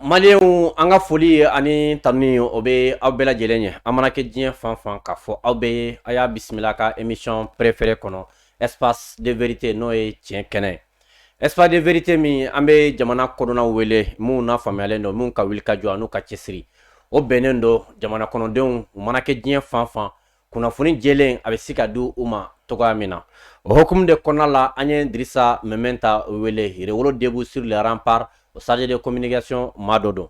Maliyɛnw an ka foli ani tanu o bɛ aw bɛɛ lajɛlen ye aw mana kɛ diɲɛ fan fan k'a fɔ aw bɛɛ a y'a bisimila ka émission préférée kɔnɔ espace de vérité n'o ye tiɲɛ kɛnɛ espace de vérité min an bɛ jamana kodɔnnaw wele minnu nafaamuyalen don minnu ka wulikajɔ n'u ka cɛsiri o bɛnnen don jamana kɔnɔdenw u mana kɛ diɲɛ fan fan kunnafoni jɛlen a bɛ se ka di u ma cogoya min na o hukumu de kɔnɔna la an ye Dirisa Mɛmɛnta wele Yɛrɛwolo debout sur les remparts o chargé de communication maa dɔ don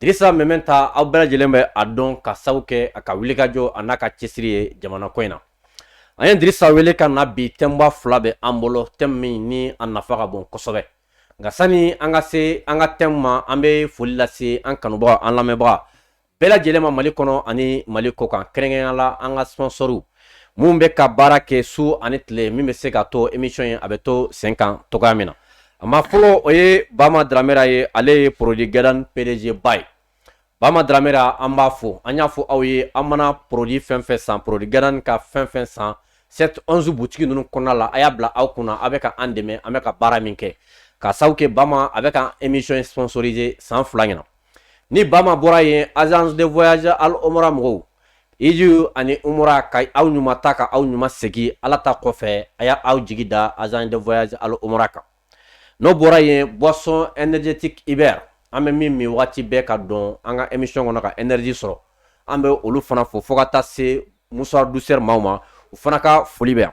Dirisa Mɛmɛnta aw bɛɛ lajɛlen bɛ a dɔn ka sabu kɛ a ka wulikajɔ a n'a ka cɛsiri ye jamana ko in na an ye dirisa wele ka na bi thème ba fila bɛ an bolo thème min ni a nafa ka bon kosɛbɛ nka sani an ka se an ka thème ma an bɛ foli lase an kanubagaw an lamɛnbaga bɛɛ lajɛlen ma mali kɔnɔ ani mali kɔ kan kɛrɛnkɛrɛnnenya la an ka sponsɔriw minnu bɛ ka baara kɛ su ani tile min bɛ se ka to emisiyɔn ye a bɛ to sen kan cogoya min na a maa fɔlɔ o ye bama daramera ye ale ye produit Gadan PDG ba ye bama daramera an b'a fo an y'a fɔ aw ye aw mana produit fɛn fɛn san produit Gadan ka fɛn fɛn san 7-11 butigi ninnu kɔnɔna la a y'a bila aw kunna a bɛ ka an dɛmɛ an bɛ ka baara min kɛ ka sabu kɛ bama a bɛ ka emisiyɔn sponsoriser san fila ɲɛna ni Bama bɔra yen agence de voyage al omra mɔgɔw hiji ani umra ka aw ɲuman taa ka aw ɲuman segin ala ta kɔfɛ a y'a aw jigi da agence de voyage al omra kan n'o bɔra yen boisson énergétique Iber an bɛ min min waati bɛɛ ka don an ka émission kɔnɔ ka énergie sɔrɔ an bɛ olu fana fo fo ka taa se Mouchoir Douceur maaw ma u fana ka foli bɛ yan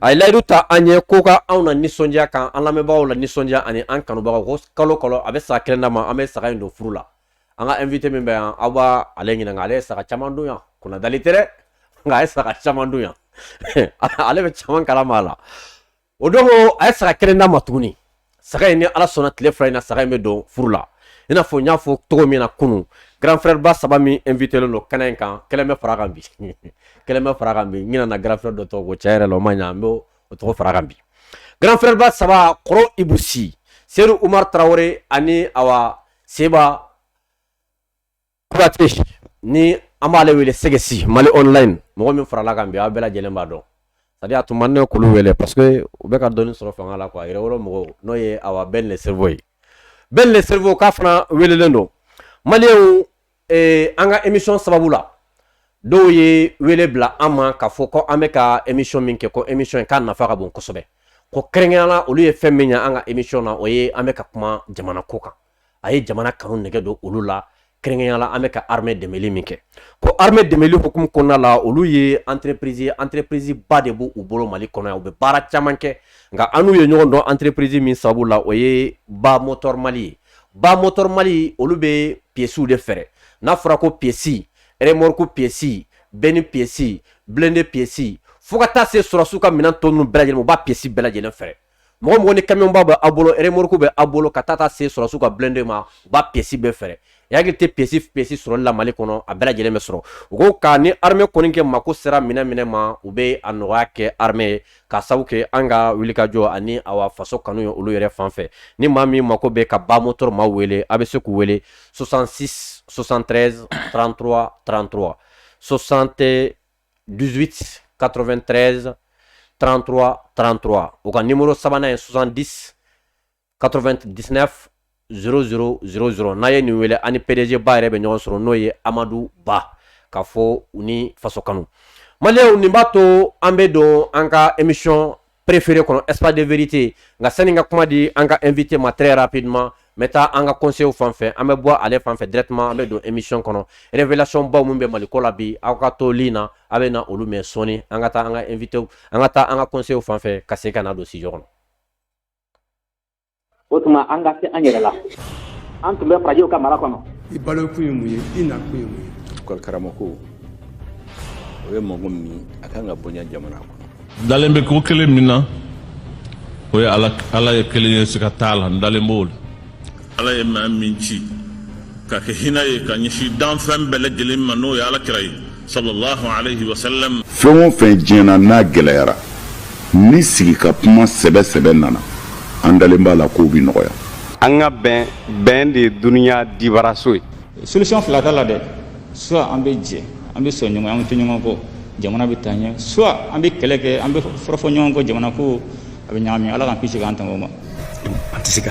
A ye layidu ta an ye ko ka anw na nisɔndiya kan an lamɛnbagaw la nisɔndiya ani an kanubagaw ko kalo kalo a bɛ saga kelen d'an ma an bɛ saga in don furu la an ka invité min bɛ yan aw b'a ale ɲininka ale ye saga caman dun yan kunnadali tɛ dɛ nka a ye saga caman dun yan ale bɛ caman kalama a la o don a ye saga kelen d'an ma tuguni saga in ni ala sɔnna tile fila in na saga in bɛ don furu la i n'a fɔ n y'a fɔ cogo min na kunun grand frère ba saba min invité len don kɛnɛ in kan kelen bɛ fara kan bi kelen bɛ fara kan bi n ɲinɛna grand frère dɔ tɔgɔ kɔ tiɲɛ yɛrɛ la o ma ɲa n bɛ o tɔgɔ fara kan bi grand frère ba saba kɔrɔ Ibou Sy Seydou Oumar Traoré ani awa seba Kuyate ni an b'ale wele sɛgɛsi Mali online mɔgɔ min farala kan bi aw bɛɛ lajɛlen b'a dɔn c'est-à-dire a tun man ne k'olu wele parce que u bɛ ka dɔɔni sɔrɔ fanga la quoi Yɛrɛwolo mɔgɔw n'o ye awa Ben le cerveau ye Ben le cerveau k'a fana welelen don Maliyɛnw an ka émission sababu la dɔw ye wele bila an ma k'a fɔ ko an bɛ ka émission min kɛ ko émission in k'a nafa ka bon kosɛbɛ ko kɛrɛnkɛrɛnnenya la olu ye fɛn min ye an ka émission na o ye an bɛ ka kuma jamana ko kan a ye jamana kanu nɛgɛ don olu la kɛrɛnkɛrɛnnenya la an bɛ ka arme dɛmɛli min kɛ ko arme dɛmɛli hukumu kɔnɔna la olu ye entreprise ye entreprise ba de b' u bolo mali kɔnɔ yan u bɛ baara caman kɛ nka an n'u ye ɲɔgɔn dɔn entreprise min sabu la o ye ba motor mali ye ba motor mali olu bɛ piyesiw de feere n'a fɔra ko piyesi remorku piyesi bɛni piyesi blende piyesi fo ka taa se sɔrɔsiw ka minɛn tɔ ninnu bɛɛ lajɛlen u b'a piyesi bɛɛ lajɛlen feere mɔgɔ mɔgɔ ni kamiyɔnba bɛ aw bolo remorku bɛ aw bolo ka taa ka se sɔrɔsiw ka blende ma u b'a piyesi bɛɛ feere i hakili tɛ piyesi piyesi sɔrɔli la mali kɔnɔ a bɛɛ lajɛlen bɛ sɔrɔ u ko ka ni arme kɔni kɛ mako sera minɛn minɛn ma u bɛ a nɔgɔya kɛ arme ye ka sabu kɛ an ka wulikajɔ ani awa faso kanu ye olu yɛrɛ fan fɛ ni maa min mako bɛ ka ba motor maaw wele a bɛ se k'u wele 66 73 33 33 60 18 93 33 33 u ka numéro sabanan ye 70 99 00 00 n'a ye nin wele ani PDG ba yɛrɛ bɛ ɲɔgɔn sɔrɔ n'o ye amadu ba k'a fɔ u ni faso kanu maliyɛnw nin b'a to an bɛ don an ka émission préférée kɔnɔ espace de vérité nka sani n ka kuma di an ka invité ma très rapidement n bɛ taa an ka conseil fan fɛ an bɛ bɔ ale fan fɛ directement an bɛ don émission kɔnɔ révélation baw minnu bɛ mali ko la bi aw ka to ligne na aw bɛ na olu mɛn sɔɔni an ka taa an ka invité an ka taa an ka conseil fan fɛ ka se ka na don studio kɔnɔ o tuma an ka se an yɛrɛ la an tun bɛ farajɛw ka mara kɔnɔ i balokun ye mun ye i nakun ye mun ye école karamɔgɔ o ye mɔgɔ min a kan ka bonya jamana kɔnɔ n dalen bɛ ko kelen min na o ye ala ye kelen ye siga t'a la n dalen b'o la ala ye maa min ci ka kɛ hinɛ ye ka ɲɛsin danfɛn bɛɛ lajɛlen ma n'o ye ala kira ye sallallahu alayhi wa sallam. fɛn o fɛn diɲɛ na n'a gɛlɛyara ni sigi ka kuma sɛbɛ sɛbɛ nana an dalen b'a la k'o bi nɔgɔya. an ka bɛn bɛn de ye dunuya dibaraso ye. solution fila t'a la dɛ soit an bɛ jɛ an bɛ sɔn ɲɔgɔn an bɛ to ɲɔgɔn kɔ jamana bɛ taa ɲɛ soit an bɛ kɛlɛ kɛ an bɛ fɔrɔfɔ ɲɔgɔn kɔ jamana ko a bɛ ɲagami ala k'an kisi k'an tanga o ma. an tɛ se ka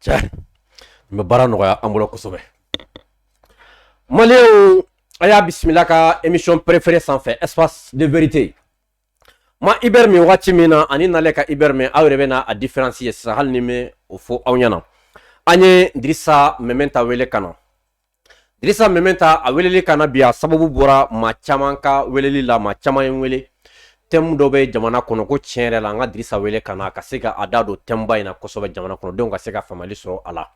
cɛ n bɛ baara nɔgɔya an bolo kosɛbɛ maliyɛnw a y'a bisimila ka émission préférée sanfɛ espace de vérité ma ibɛri min wagati min na ani nale ka ibɛri min aw yɛrɛ bɛna a différence ye sisan hali ni n ma o fɔ aw ɲɛna an ye dirisa mɛmɛnta wele ka na Dirisa Meminta a weleli ka na bi a sababu bɔra maa caman ka weleli la maa caman ye wele tɛmu dɔ bɛ jamana kɔnɔ ko tiɲɛ yɛrɛ la an ka Dirisa wele ka na ka se ka a da don tɛmu ba in na kosɛbɛ jamana kɔnɔdenw ka se ka faamali sɔrɔ a la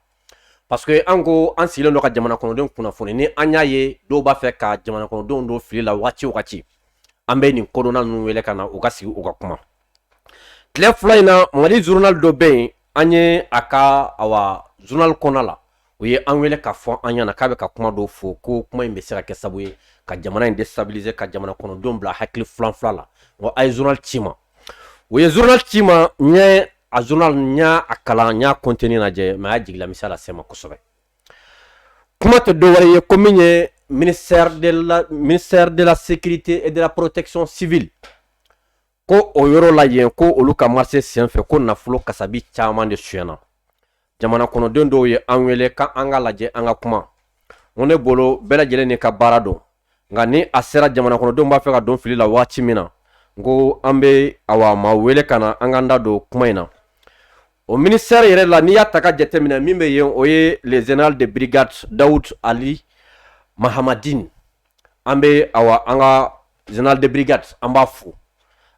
parce que an ko an sigilen don ka jamana kɔnɔdenw kunnafoni ni an y'a ye dɔw b'a fɛ ka jamana kɔnɔdenw don fili la wagati o wagati an bɛ nin kodɔnna ninnu wele ka na u ka sigi u ka kuma tile fila in na mali journal dɔ bɛ yen an ye a ka awa journal kɔnɔ la u ye an wele ka fɔ an ɲɛna k'a bɛ ka kuma dɔw fɔ ko kuma in bɛ se ka kɛ sababu ye ka jamana in déstabiliser ka jamana kɔnɔdenw bila hakili filanfila la wa a ye journal ci ma u ye journal ci ma n ye a journal n y'a a kalan n y'a contenu lajɛ mais a y'a jigila misɛnya lase ma kosɛbɛ kuma tɛ dɔ wɛrɛ ye ko min ye ministère de la ministère de la sécurité et de la protection civile ko o yɔrɔ la yen ko olu ka marché senfɛ ko nafolo kasabi caman de suyana jamana kɔnɔden dɔw ye an wele ka an ka lajɛ an ka kuma ko ne bolo bɛɛ lajɛlen ni ka baara don nka ni a sera jamana kɔnɔdenw b'a fɛ ka don fili la waati min na n ko an bɛ awa maa wele ka na an k'an da don kuma in na o ministère yɛrɛ la n'i y'a ta ka jateminɛ min bɛ yen o ye le général de brigade dawud ali mahamadin an bɛ awa an ka général de brigade an b'a fo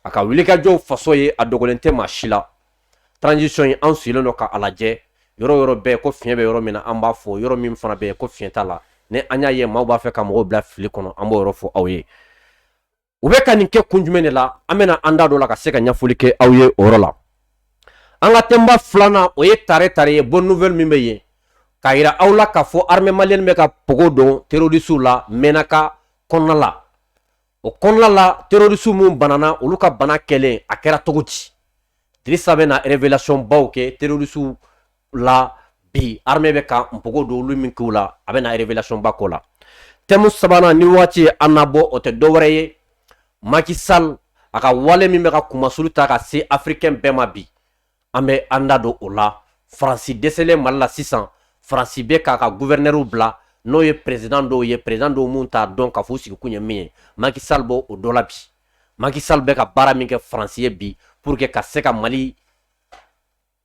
a ka wulikajɔw faso ye a dogolen tɛ maa si la transition in an sigilen don ka a lajɛ yɔrɔ yɔrɔ bɛɛ ko fiɲɛ bɛ yɔrɔ min na an b'a fɔ yɔrɔ min fana bɛ yen ko fiɲɛ t'a la ni an y'a ye maaw b'a fɛ ka mɔgɔw bila fili kɔnɔ an b'o yɔrɔ fɔ aw ye u bɛ ka nin kɛ kun jumɛn de la an bɛna an da don o la ka se ka ɲɛfɔli kɛ aw ye o yɔrɔ la an ka tɛmu filanan o ye tare tare ye bonne nouvelle min bɛ yen k'a yira aw la k'a fɔ armée malienne bɛ ka pogo don terrorisiw la Menaka kɔnɔna la o kɔnɔna la terorisiw minnu banana olu ka bana kɛlen a kɛra cogo di dirisa bɛ na révélation baw kɛ terorisiw la bi armée bɛ ka npogo don olu min k'u la a bɛ na révélation ba k'o la tɛmu sabanan ni waati ye an nabɔ o tɛ dɔwɛrɛ ye Macky Sall a ka wale min bɛ ka kunmasulu ta ka se africain bɛɛ ma bi an bɛ an da don o la faransi dɛsɛlen mali la sisan faransi bɛ k'a ka guvɛrinɛriw bila n'o ye perezidan dɔw ye perezidan dɔw minnu t'a dɔn k'a f'u sigikun ye min ye Macky Sall b'o dɔ la bi Macky Sall bɛ ka baara min kɛ faransi ye bi pour que ka se ka mali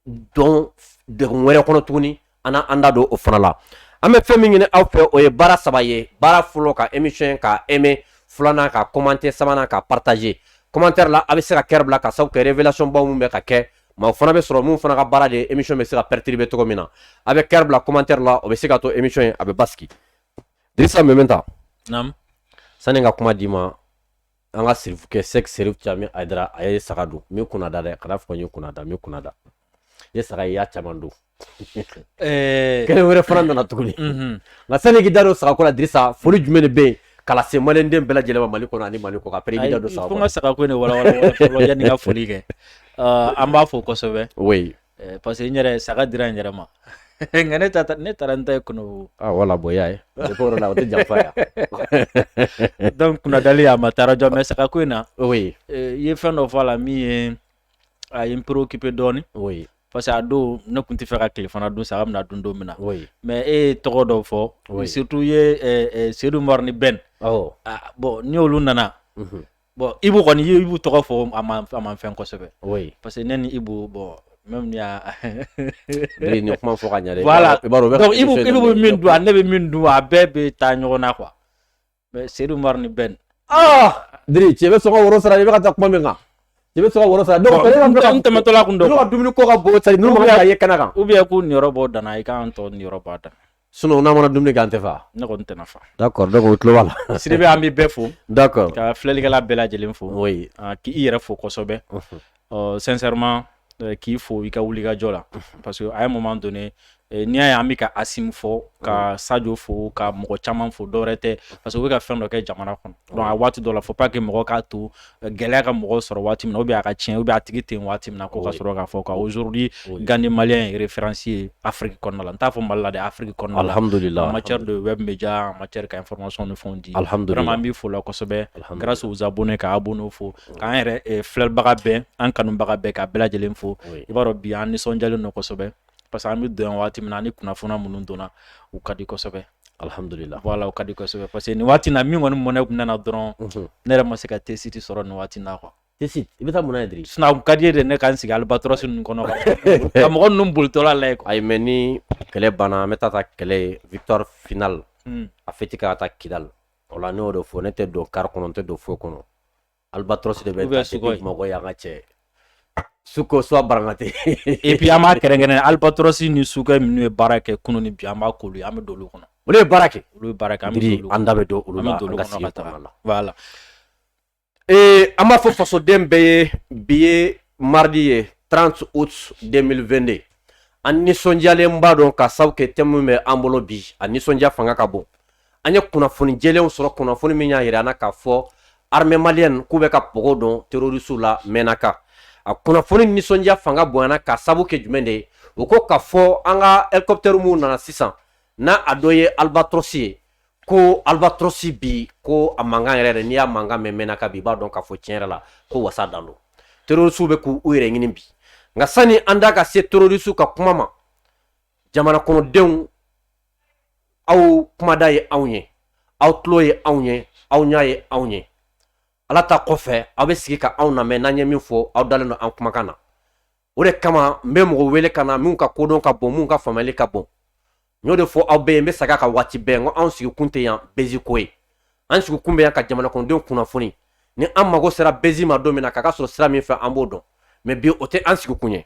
don degun wɛrɛ kɔnɔ tuguni an na an da don o fana la an bɛ fɛn min ɲini aw fɛ o ye baara saba ye baara fɔlɔ ka émission ka aimer filanan ka commenter sabanan ka partager commentaire la a bɛ se ka cœur bila ka sababu kɛ révélation baw min bɛ ka kɛ maa fana bɛ sɔrɔ min fana ka baara de émission bɛ se ka perturber cogo min na a bɛ cœur bila commentaire la o bɛ se ka to émission in a bɛ basigi Dirisa Meminta sani ka kuma d'i ma an ka sirifu kɛ sɛki sirifu caman Aidara a ye saga don min kunna da dɛ kana fɔ n ye kunna da min kunna da ye saga y'a caman don eh. kelen wɛrɛ fana nana tuguni mhm. nka sani k'i da don saga ko la dirisa foli jumɛn de bɛ yen k'a lase maliden bɛɛ lajɛlen ma mali kɔnɔ ani mali kɔkan pere da don saga ko n ka saga ko in de walawala fɔlɔ yanni n ka foli kɛ ah, an b'a fɔ kosɛbɛ oui Eh, parce que n yɛrɛ saga dira n yɛrɛ ma nka ne ta ne taara n ta ye kɔni ah, wala bonya ye o la o tɛ janfa ya donc kunnadali a ma taara jɔ mais saga ko in na oui eh, i ye fɛn dɔ fɔ a la min ye a ye n préoccupé dɔɔni oui parce que a don ne tun tɛ fɛ ka tilefana dun saga bɛna dun don min na oui mais e ye tɔgɔ dɔw fɔ oui. surtout i ye eh, Seydou Umaru ni Ben awɔ ah, bon ni olu nana mhm. bon Ibu kɔni Ibu tɔgɔ fɔ a ma a ma fɛn kosɛbɛ parce que ne ni Ibu bon même ni y'a ni kuma fɔ ka ɲɛ dɛ voilà i b'a dɔn Ibu bɛ min dun a ne bɛ min dun a bɛɛ bɛ taa ɲɔgɔn na quoi mais Seydou Umaru ni Ben ah Diri cɛ bɛ sɔn ka woro sara i bɛ ka taa kuma min kan i bɛ sɔn ka woro sara donc n tɛmɛtɔ la kun dɔ ka dumuni ko ka bon sari n'u ma ka ye kɛnɛ kan ou bien k'u niyɔrɔ bɔ dana i k'an tɔ niyɔrɔ bɔ a dana sinon n'a mana dumuni kɛ an tɛ fa ne kɔni tɛna fa d'accord donc o tulon b'a la Sidibe an bɛ bɛɛ fo d'accord ka filɛlikɛla bɛɛ lajɛlen fo k' i yɛrɛ fo kosɛbɛ sincèrement k'i fo i ka wuli ka jɔ la parce que à un moment donné n'i y'a ye an bɛ ka Asimi fo ka sajo fo ka mɔgɔ caman fo dɔwɛrɛ tɛ parce que u bɛ ka fɛn dɔ kɛ jamana kɔnɔ donc a waati dɔ la faut pas que mɔgɔ k'a to gɛlɛya ka mɔgɔw sɔrɔ waati min na ou bien a ka tiɲɛ ou bien a tigi ten waati min na ko ka sɔrɔ k'a fɔ ka aujourd'hui Gandi malien ye référence ye afiriki kɔnɔna la n t'a fɔ mali la dɛ afiriki kɔnɔna alhamdulila en matière de web média en matière ka information ni fɛnw di alhamdu an b'i fo la kosɛbɛ grâce aux abonnés ka abonnés fo k'an yɛrɛ eh, filɛbaga bɛɛ an kanubaga bɛɛ ka bɛɛ lajɛlen fo i b'a dɔn bi an nisɔnjalen don kosɛbɛ parce que an bɛ don yan waati min na ni kunnafoni minnu donna u ka di kosɛbɛ Alihamdulila voilà u ka di kosɛbɛ parce que nin waati na min kɔni mɔnɛ tun nana dɔrɔn ne yɛrɛ ma se ka tee-shirt sɔrɔ nin waati na quoi i bɛ taa mun na Diri sinon a ka di n ye dɛ ne ka n sigi Albatros ninnu kɔnɔ ka mɔgɔ ninnu bolitɔla lajɛ ayi mais ni kɛlɛ banna an bɛ taa kɛlɛ victoire finale a fêti ka taa kidala o la n'o de fɔ ne tɛ don car kɔnɔ n tɛ don foyi kɔnɔ Albatros depuis Bamakɔ yan ka cɛ Sukhoi su baratɛ et puis an b'a kɛrɛnkɛrɛn Albatros ni Sukhoi minnu ye baara kɛ kunun ni bi an b'a k'olu an bɛ don olu kɔnɔ olu ye baara kɛ olu baara kɛ an an da bɛ don olu la voilà ee an b'a fɔ fasoden bɛɛ ye bi ye maridi ye 30 août 2022 an nisɔndiyalenba don ka sababu kɛ thème min bɛ an bolo bi a nisɔndiya fanga ka bon an ye kunnafoni jɛlenw sɔrɔ kunnafoni min y'a jira an na k'a fɔ armée malienne k'u bɛ ka pogo don terrorisiw la mɛnaka a kunnafoni nisɔndiya fanga bonyana ka sabu kɛ jumɛn de ye o ko k'a fɔ an ka hélicoptère minnu nana sisan n'a a dɔ ye albatros ye ko albatros bi ko a mankan yɛrɛ yɛrɛ n'i y'a mankan mɛn mɛnaka bi i b'a dɔn k'a fɔ tiɲɛ yɛrɛ la ko wasa dan don terrorisiw bɛ k'u yɛrɛ ɲini bi nka sani an da ka se terrorisiw ka kuma ma jamana kɔnɔdenw aw kumada ye anw ye aw tulo ye anw ye aw ɲa ye anw ye ala ta kɔfɛ aw bɛ sigi ka anw lamɛn n'an ye min fɔ aw dalen don an kumakan na o de kama n bɛ mɔgɔ wele ka na minnu ka kodɔn ka bon minnu ka faamuyali ka bon n y'o de fɔ aw bɛɛ ye n bɛ segin a kan waati bɛɛ n ko anw sigikun tɛ yan bezi ko ye an sigikun bɛ yan ka jamanakɔnɔdenw kunnafoni ni an mago sera bezi ma don min na k'a ka sɔrɔ sira min fɛ an b'o dɔn mais bi o tɛ an sigikun ye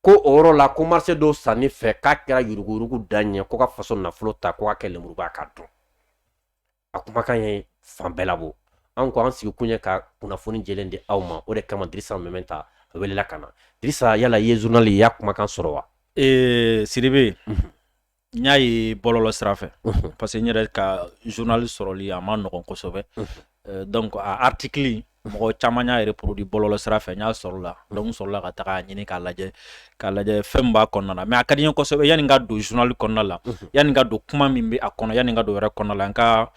ko o yɔrɔ la ko marché dɔw sanni fɛ k'a kɛra yuruguyurugu dan ye ko ka faso nafolo ta ko k'a kɛ lemuruba k'a dun a kumakan ye fan bɛɛ labɔ an ko an sigi kun ye ka kunnafoni jɛlen di aw ma o de kama dirisa meminta welela ka na dirisa yala i ye journal ye i y'a kumakan sɔrɔ wa ee sidibe n y'a ye bɔlɔlɔ sira fɛ parce que n yɛrɛ ka journal sɔrɔli a ma nɔgɔn kosɛbɛ euh, donc a article mɔgɔ caman y'a reproduit bɔlɔlɔ sira fɛ n y'a sɔrɔ la donc n sɔrɔla ka taga a ɲini k'a lajɛ k'a lajɛ fɛn b'a kɔnɔna la mais a ka di n ye kosɛbɛ yanni n ka don journal kɔnɔna la yanni n ka don kuma min bɛ a kɔnɔ yanni n ka don yɛrɛ kɔnɔna la n ka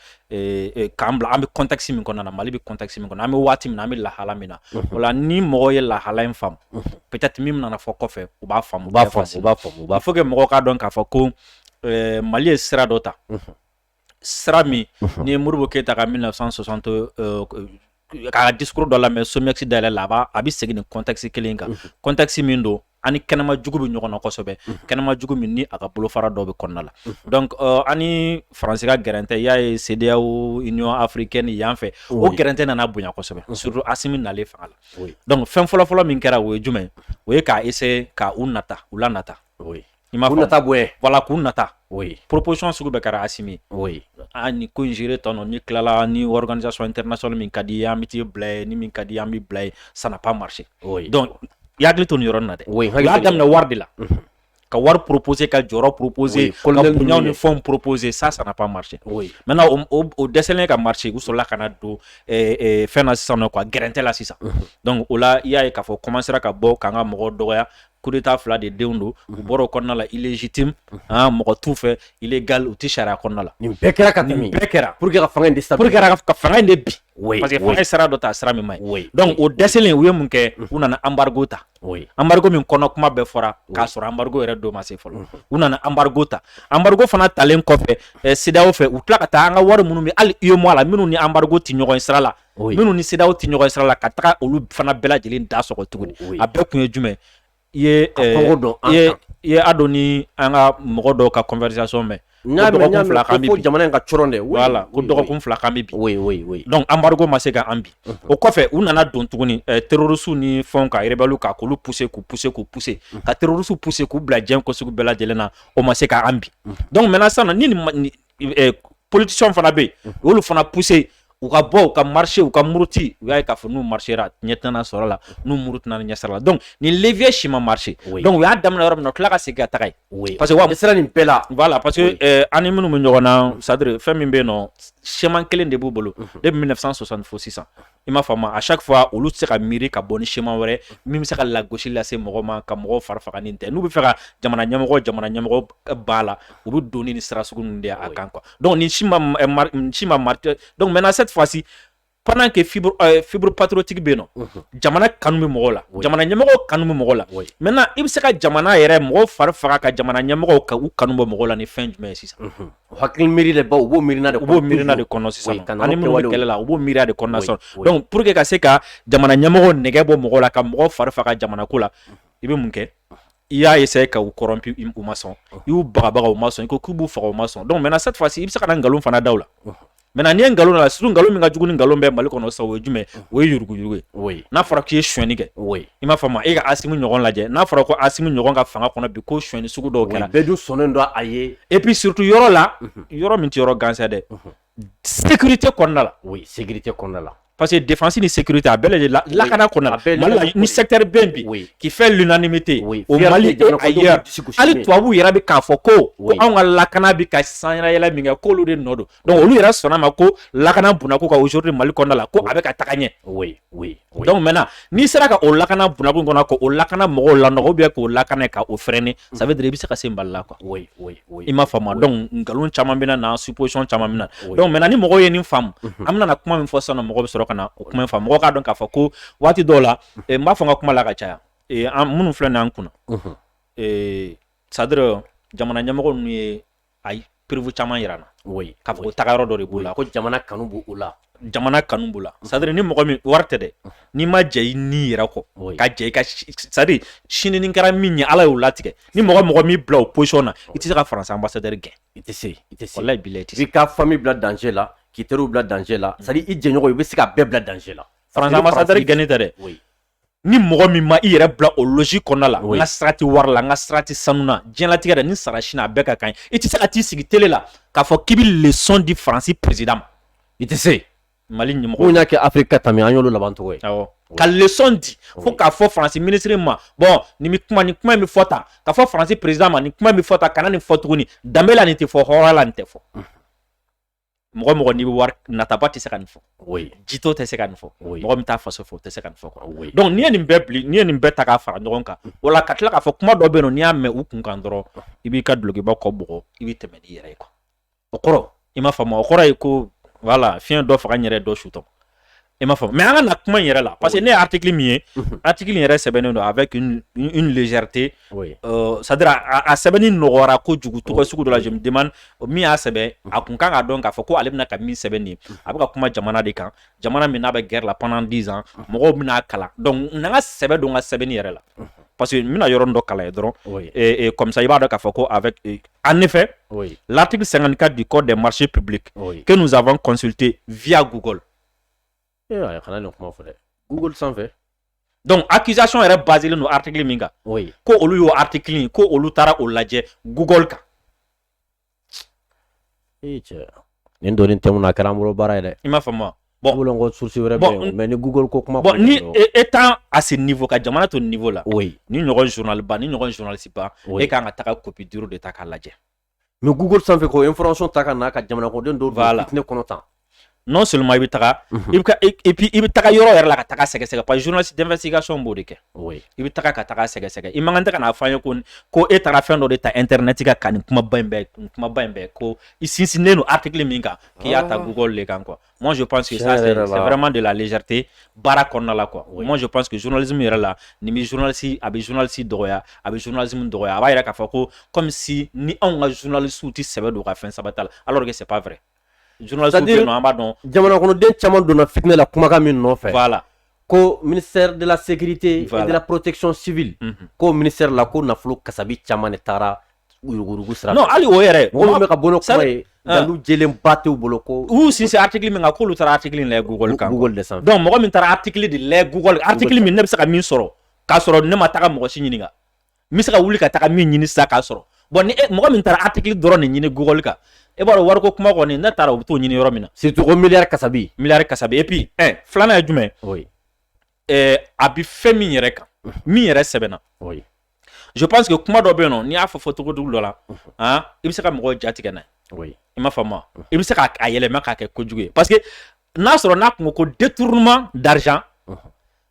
k'an bila an bɛ contexte min kɔnɔna na mali bɛ contexte min kɔnɔ an bɛ waati min na an bɛ lahala min na o la ni mɔgɔ ye lahala in faamu peut-être min nana fɔ kɔfɛ u b'a faamu il faut que mɔgɔ k'a dɔn k'a fɔ ko mali ye sira dɔ ta sira min n'i ye modibo keyita ka mille neuf cent soixante ka discours dɔ lamɛn somiex dayɛlɛ la a bɛ segin nin contexte kelen kan contexte min don ani kɛnɛma jugu bɛ ɲɔgɔn na kosɛbɛ kɛnɛma jugu min ni a ka bolofara dɔ bɛ kɔnɔna la donc ani faransi ka gɛrɛntɛ y'a ye cedeao union africaine yan fɛ o gɛrɛntɛ nana bonya kosɛbɛ surtout asimi nalen fanga la donc fɛn fɔlɔfɔlɔ min kɛra o ye jumɛn o ye ka essayer k'u nata u lanata I ma nata bɔ voilà k'u nata proposition sugu bɛɛ kɛra asimi o ye aa ni ko in gérer tan n'i tilala ni organisation internationale min ka di an bɛ t'i bila yen ni min ka di an b'i bila yen ça n'a pas marché donc i hakili to nin yɔrɔ na dɛ u y'a daminɛ wari de la ka wari proposer ka jɔyɔrɔ proposer ko ɲɔgɔnw ni fɛn proposer ça ça n'a pas marché maintenant o dɛsɛlen ka marcher u sɔrɔla ka na don fɛn na sisan quoi gɛrɛntɛ la sisan donc o la i y'a ye k'a fɔ commencera ka bɔ k'an ka mɔgɔ dɔgɔya coup d'état fila de denw don u bɔra o kɔnɔna la illégitime mɔgɔ t'u fɛ illégal u tɛ sariya kɔnɔna la nin bɛɛ kɛra ka tɛmɛ nin bɛɛ kɛra pour que ka fanga in déstabiliser pour que ka fanga in de bi parce que fanga ye sira dɔ ta sira min ma ɲi donc o dɛsɛlen u ye mun kɛ u nana embargo ta embargo min kɔnɔ kuma bɛɛ fɔra k'a sɔrɔ embargo yɛrɛ don ma se fɔlɔ u nana embargo ta embargo fana talen kɔfɛ CEDEAO fɛ u tila ka taa an ka wari minnu bɛ hali UEMOA la minnu ni embargo tɛ ɲɔgɔn sira la minnu ni CEDEAO tɛ ɲɔgɔn sira la ka taga olu fana bɛɛ lajɛlen da sɔgɔ tuguni a bɛɛ kun ye jumɛn ye i y'a dɔn ni an ka mɔgɔ dɔw ka conversation mɛn ko jamana in ka cɔrɔn dɛ voilà ko dɔgɔkun fila k'an bi donc embargo ma se ka an bi o kɔfɛ u nana don tuguni terroristes ni fɛnw ka rebelles ka k'olu pousser k'u pousser k'u pousser ka terroristes pousser k'u bila diɲɛ ko sugu bɛɛ lajɛlen na o ma se k' an bi donc maintenant sisan eh, politiciens fana bɛ yen u mhm. y'olu fana pousser u ka bɔ u ka marché u ka muruti u y'a ye k'a fɔ n'u marchera ɲɛ tɛna sɔrɔ la n'u murutina ɲɛ sira la donc nin levier si ma marché donc u y'a daminɛ yɔrɔ min na u tila ka segin ka taga yen parce que wa sera nin bɛɛ la voilà parce que eh, an ni minnu bɛ ɲɔgɔn na c'est à dire fɛn min bɛ yen nɔ schéma kelen de b'u bolo mhm. depuis 1960 fo sisan i m'a faamu à chaque fois olu tɛ se ka miiri ka bɔ ni schéma wɛrɛ min bɛ se ka lagosi lase mɔgɔ ma ka mɔgɔw fari faga ni tɛ n'u bɛ fɛ ka jamana ɲɛmɔgɔ jamana ɲɛmɔgɔ b'a la u bɛ don ni sira sugu ninnu de a kan quoi donc nin si ma si ma marché donc maintenant cette fois ci pendant que fibre euh, fibre patriotique bɛ yen nɔ mhm. jamana kanu bɛ mɔgɔw la jamana ɲɛmɔgɔ kanu bɛ mɔgɔw la maintenant i bɛ se ka jamana yɛrɛ mɔgɔw fari faga ka jamana ɲɛmɔgɔw ka u kanu bɔ mɔgɔw la ni fɛn jumɛn ye sisan. Mhm. Hakili miiri de baw u b'o miirina de u b'o miirina de kɔnɔ sisan nɔ, an ni minnu bɛ kɛlɛ la u b'o miiriya de kɔnɔna sisan nɔ, donc pour que ka se ka jamana ɲɛmɔgɔ nɛgɛ bɔ mɔgɔ la ka mɔgɔ fari faga jamana ko la i bɛ mun kɛ i y'a essayer ka u corrompu u ma sɔn i y'u bagabaga u ma sɔn i ko k'u b'u faga u ma sɔn donc maintenant cette fois ci i bɛ se ka na nkalon fana da u la maintenant n'i ye nkalon la surtout nkalon min ka jugu ni nkalon bɛɛ Mali kɔnɔ sisan o ye jumɛn o ye yuruguyurugu ye n'a fɔra k'i ye sonyɛni kɛ i m'a faamu e ka Asimi ɲɔgɔn lajɛ n'a fɔra ko Asimi ɲɔgɔn ka fanga kɔnɔ bi ko sonyɛni sugu dɔw kɛra bɛɛ dun sɔnnen don a ye et puis surtout yɔrɔ la yɔrɔ min tɛ yɔrɔ gansan dɛ sécurité kɔnɔna la sécurité kɔnɔna la parce que défense ni sécurité a bɛɛ lajɛlen lakana kɔnɔna la Mali la ni secteur bɛ yen bi qui fait l'unanimité au Mali et ailleurs hali tubabuw yɛrɛ bɛ k'a fɔ ko ko anw ka lakana bɛ ka sanyɛlɛ min kɛ k'olu de nɔ don donc olu yɛrɛ sɔnna ma ko lakana bundako ka aujourd'hui Mali kɔnɔna la ko a bɛ ka taga ɲɛ donc maintenant n'i sera ka o lakana bundako in kɔnɔ ka o lakana mɔgɔw lanɔgɔ ou bien k'o lakana ka o freiner mm. ça veut dire i bɛ se ka se Mali la quoi oui oui oui i m'a faamu donc nkalon caman bɛna na supposition caman bɛ na donc maintenant ni mɔgɔw ye nin faamu mm-hmm. an bɛna na kuma min fɔ sisan nɔ mɔgɔ bɛ sɔrɔ ka na o kuma in faamu mɔgɔ k'a dɔn k'a fɔ ko waati dɔw la mm-hmm. eh, n b'a fɔ n ka kuma la ka caya eh, an minnu filɛ nin ye an kunna mm-hmm. eh, c'est à dire jamana ɲɛmɔgɔ ninnu ye a ye preuve caman jira an na k'a fɔ taga yɔrɔ dɔ de b'u la ko jamana kanu b'u la jamana kanu b'u la c'est-à-dire ni mɔgɔ min wari tɛ dɛ n'i ma jɛ i ni yɛrɛ kɔ ka jɛ i ka c'est-à-dire sini ni kɛra min ye ala y'o latigɛ ni mɔgɔ mɔgɔ m'i bila o position na i tɛ se ka faransi ambassadeur gɛn i tɛ se i tɛ se walayi bilayi i tɛ se ka famille bila danger la k'i teriw bila danger la c'est-à-dire i jɛɲɔgɔn i bɛ se ka bɛɛ bila danger la faransi ambassadeur gɛnni tɛ dɛ ni mɔgɔ min ma i yɛrɛ bila o logique kɔnɔna la n ka sira tɛ wari la n ka sira tɛ sanu na diɲɛlatigɛ la ni sara sini a bɛɛ ka kan i tɛ se ka t'i sigi tele la k'a fɔ k'i bɛ leçon di faransi président ma i tɛ se mali ɲɛmɔgɔ min y'a kɛ afiriki ka tɛmɛ an y'olu laban cogo ye awɔ ka leçon di fo k'a fɔ faransi minisiri ma bon nin bɛ kuma nin kuma in bɛ fɔ tan k'a fɔ faransi président ma nin kuma in bɛ fɔ tan kana nin fɔ tuguni danbe la nin tɛ fɔ hɔrɔnya la nin tɛ fɔ mɔgɔ mɔgɔ n'i bɛ wari nataba tɛ se ka nin fɔ jitɔ tɛ se ka nin fɔ mɔgɔ min t'a faso fɛ o tɛ se ka nin fɔ quoi donc n'i ye nin bɛɛ bili n'i ye nin bɛɛ ta k'a fara ɲɔgɔn kan o la ka tila k'a fɔ kuma dɔ bɛ yen n'i y'a mɛn u kun kan dɔrɔn i b'i ka dulokiba kɔ bɔ i bɛ tɛmɛ n'i yɛrɛ ye quoi o kɔrɔ i m'a faamu o kɔrɔ ye ko voilà fiɲɛ dɔ faga yɛrɛ dɔ sutɔ I m'a fɔ mɛ an ka na kuma in yɛrɛ la parce que ne ye arariki min ye a tigi yɛrɛ sɛbɛnnen don a bɛ zrite sadira a sɛbɛnni nɔgɔyara ko jugu tɔgɔ sugu dɔ laden min y'a sɛbɛn a tun kan ka dɔn k'a fɔ ko ale bɛna ka min sɛbɛn nin a bɛ ka kuma jamana de kan jamana min n'a bɛ g la pan diz mɔgɔw bɛna'a kalan dɔnku n ka sɛbɛn don ka sɛbɛnni yɛrɛ la pa que bɛna yɔrɔ dɔ kala ye dɔrɔn kɔmisa i b'a dɔn k'a fɔ ko a an ne fɛ latigi san ka di kɔ dɛ mari pbi ke ninnusaban kɔnte viyaya gukɔ Ee a kana nin kuma fɔ dɛ google sanfɛ donc accusation yɛrɛ basilen don article min kan oui. ko olu y'o article in ko olu taara o lajɛ google kan ee cɛ nin donni tɛmɛna a kɛra an bolo baara ye dɛ i m'a faamu bon bolo ko source wɛrɛ bɛ mais ni google ko kuma bon ni étant à ce niveau ka jamana to niveau la oui nin ɲɔgɔn journal ba nin ɲɔgɔn journaliste ba e kan ka taga copie dure de ta k'a lajɛ mais google sanfɛ ka information ta ka na ka jamanakɔnɔden dɔw don fitinɛ kɔnɔ tan non seulement i bɛ taga i bɛ et puis i bɛ taga yɔrɔ yɛrɛ la ka taga sɛgɛsɛgɛ parce que journaliste d'investigation b'o de kɛ i bɛ taga ka taga sɛgɛsɛgɛ i man kan tɛ ka n'a fɔ an ye ko ko e taara fɛn dɔ de ta internet kan ka nin kumaba in bɛɛ kumaba in bɛɛ ko i sinsinnen don article min kan k'i y'a ta google de kan quoi Moi, je pense que ça, c'est vraiment de la légèreté. Baara kɔnɔna la quoi. Moi, je pense que journalisme yɛrɛ la, nin bɛ journaliste, a bɛ journaliste dɔgɔya, a bɛ journalisme dɔgɔya. A b'a yira k'a fɔ ko comme si ni anw ka journalistew tɛ sɛbɛ don u ka fɛn sɛbɛnta la, alors que c'est pas vrai. Journaliste bɛ yen nɔ, an b'a dɔn. Jamanakɔnɔden caman donna fitinɛ la kumakan min nɔfɛ. Voilà. ko minisɛri dela segkirite dela porotecon sibi ko minisɛri la ko nafolo kasabi caman de taara worodugu sira hali o yɛrɛ mɔgɔ bɛ ka bolo saba ye dalu j ba t' bolo ko uu sinse a hakili min k'olu taara hakili de mɔgɔ min taara a hakili de la gu min ne bɛ se ka min sɔrɔ k'a sɔrɔ ne ma taa mɔgɔsi ɲini n bɛ se ka wuli ka taga min ɲini sisan k'a sɔrɔ bon ni e, mɔgɔ min taara article dɔrɔn de ɲini Google kan e b'a dɔn wariko kuma kɔni ne taara u bɛ t'o ɲini yɔrɔ min na surtout ko miliyari kasabi miliyari kasabi et puis un filanan ye jumɛn oui. eh, a bɛ fɛn min yɛrɛ kan min yɛrɛ sɛbɛnna oui. je pense que kuma dɔ bɛ yen nɔ n'i y'a fɔ fɔ cogo jugu dɔ la han i bɛ se ka mɔgɔw ja tigɛ n'a ye oui. i m'a faamu wa i bɛ se k'a a yɛlɛma k'a kɛ kojugu ye parce que n'a sɔrɔ n'a kun ko ko détournement d'argent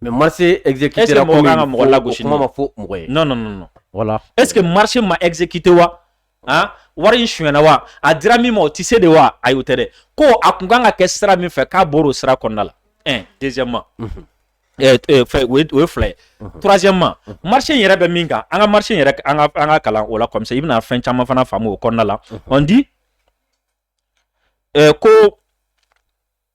Mais marché exécuté la mɔgɔ ka mɔgɔ lagosi ma fɔ mɔgɔ ye non voilà est ce que marché ma exécuté wa aa wari in sonyana wa a dira min ma o tɛ se de wa ayi o tɛ dɛ ko a kun kan ka kɛ sira min fɛ k'a bɔra o sira kɔnɔna la ɛ deuxièmement o ye fila ye troisièmement marché in yɛrɛ bɛ min kan an ka marché in yɛrɛ an k'a kalan o la comme ça i bɛna fɛn caman fana faamu o kɔnɔna la on dit ko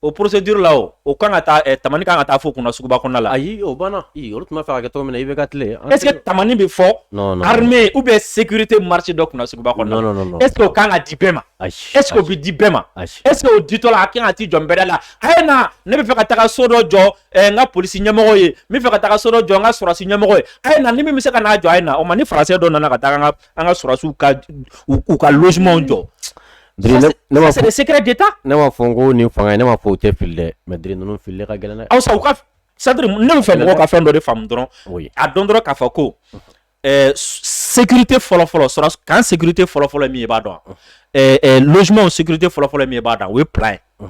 o procédure la o o kan ka taa ɛ eh, tamani kan ka taa fɔ kunna suguba kɔnɔna la ayi o banna i olu tun b'a fɛ ka kɛ cogo min na i bɛ ka tile est ce que tamani bɛ fɔ armée ou bien sécurité marché dɔ kunna suguba kɔnɔna est ce que o kan ka di bɛɛ ma est ce que o bɛ di bɛɛ ma est ce que o ditɔ la a kan ka t'i jɔ nbɛda la a ye na ne bɛ fɛ ka taga so dɔ jɔ eh, n ka polisi ɲɛmɔgɔ ye n bɛ fɛ ka taga so dɔ jɔ n ka sɔrɔsi ɲɛmɔgɔ ye a ye na ni min bɛ se ka n'a jɔ a ye na o ma ni français dɔ nana ka taga n ka an ka sɔrɔsiw ka u ka logements jɔ c'est le secret d'état ne m'a fɔ n ko nin fanga ne m'a fɔ u tɛ fili dɛ mais diri ninnu filili ka gɛlɛn dɛ aw sa u ka c'est-à-dire ne bɛ fɛ mɔgɔw ka fɛn dɔ de faamu dɔrɔn a dɔn dɔrɔn k'a fɔ ko eh, sécurité fɔlɔfɔlɔ sɔrɔ camp sécurité fɔlɔfɔlɔ ye min ye i b'a dɔn wa eh, eh, logements sécurité fɔlɔfɔlɔ ye min ye i b'a dɔn o ye plan ye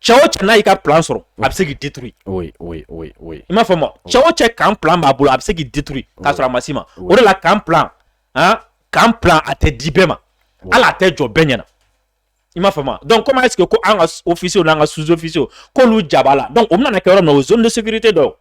cɛ o cɛ n'a y'i ka plan sɔrɔ a bɛ se k'i détruire oui oui oui oui i m'a faamu wa cɛ o cɛ camp plan b'a bolo a bɛ se k'i détruire k'a sɔrɔ a ma s'i ma o de la camp plan han camp plan a tɛ di bɛɛ ma hali a tɛ jɔ bɛɛ ɲɛna i m'a faamu wa donc comment est-ce que ko an ka officiers n'an ka sous-officiers k'olu jaba la donc o bɛna na kɛ yɔrɔ min na o ye zone de sécurité dɔ ye o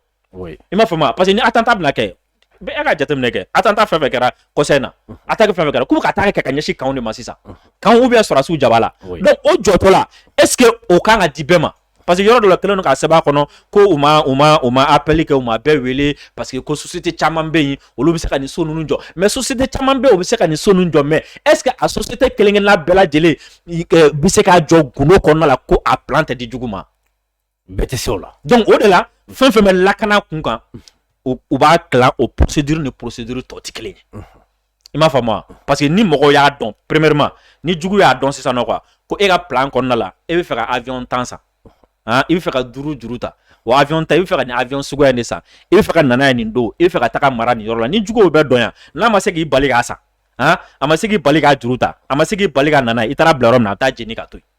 i m'a faamu wa parce que ni attentat bɛna kɛ bɛɛ ka jateminɛ kɛ attentat fɛn fɛn kɛra kɔsa in na attaque fɛn fɛn kɛra k'u bɛ ka attaque kɛ ka ɲɛsin campw de ma sisan campw ou bien sɔrɔdasiw jaba la donc o jɔtɔ la est ce que o kan ka di bɛɛ ma parce que yɔrɔ dɔ la kɛlen don k'a sɛbɛn a kɔnɔ ko u ma u ma u ma appel kɛ u ma bɛɛ wele parce que ko société caman bɛ yen olu bɛ se ka nin so ninnu jɔ mais société caman bɛ yen o bɛ se ka nin so ninnu jɔ mais est ce que a société kelen kelenna bɛɛ lajɛlen bɛ se k'a jɔ gundo kɔnɔna la ko a plan tɛ di jugu ma. bɛɛ tɛ se o la donc o de la fɛn fɛn bɛ lakana kun kan u b'a tila o procédure ni procédure tɔ tɛ kelen ye i m'a faamu wa parce que ni mɔgɔw y'a dɔn premièrement ni jugu y'a dɔn sisan nɔ quoi ko e ka plan kɔnɔna la e bɛ fɛ ka avion tan san han i bɛ fɛ ka duuru juru ta o avion ta i bɛ fɛ ka nin avion suguya in de san i bɛ fɛ ka na n'a ye nin don i bɛ fɛ ka taga mara nin yɔrɔ la ni juguw b'a dɔn yan n'a ma se k'i bali k'a san han a ma se k'i bali k'a juru ta a ma se k'i bali ka na n'a ye i taara bila yɔrɔ min na a bɛ taa jeni ka to yen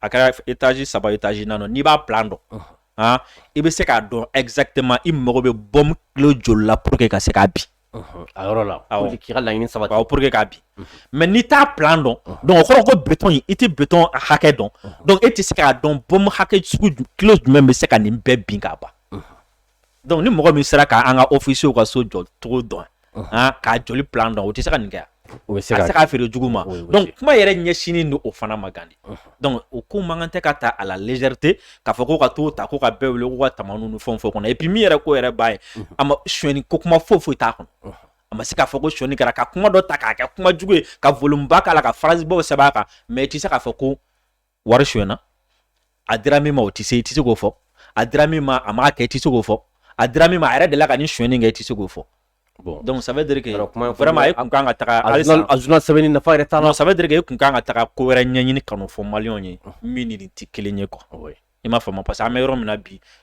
a kɛra etaji saba etaji naani n'i b'a plan dɔn i bɛ se k'a dɔn exactement i mago bɛ bombe kilo joli la pour que ka se k'a bin a yɔrɔ la k'i ka laɲini sabati pour que k'a bin mais n'i t'a plan dɔn donc o kɔrɔ ko béton i tɛ béton hakɛ dɔn donc e tɛ se k'a dɔn bombe hakɛ kilo jumɛn bɛ se ka nin bɛɛ bin k'a ban dɔnku ni mɔgɔ min sera k'an ka ofisiyew ka so jɔ cogo dɔn k'a joli plan dɔn o tɛ se ka nin kɛ o bɛ se k'a feere jugu ma dɔnku kuma yɛrɛ ɲɛsinnen don o fana ma gandi dɔnku o ko man kan tɛ ka ta à la légèreté k'a fɔ ko ka t'o ta ko ka bɛɛ wele ko ka ta ni fɛn fɔ kɔnɔ et puis min yɛrɛ ko yɛrɛ ba ye a ma sonyɛni ko kuma foyi foyi t'a kɔnɔ a ma se k'a fɔ ko sonyɛni kɛra ka kuma dɔ ta k'a kɛ kuma jugu ye ka volume ba k'a la ka phrase baw sɛbɛn a kan mais i tɛ se k'a fɔ ko wari sonyɛna a dira min ma o tɛ se i tɛ se k'o fɔ a dira min ma a m'a kɛ i tɛ se k'o fɔ a dira min ma a yɛrɛ delila ka nin sonyɛni kɛ i tɛ se k'o fɔ Bon. Donc ça veut dire que vraiment e kun kan ka taga halisa a journal sɛbɛnni nafa yɛrɛ t'a la. Non ça veut dire que e kun kan ka taga ko wɛrɛ ɲɛɲini ka n'o fɔ maliyɛnw ye min ni nin tɛ kelen ye quoi. Oui. I m'a faamu parce que an bɛ yɔrɔ min na bi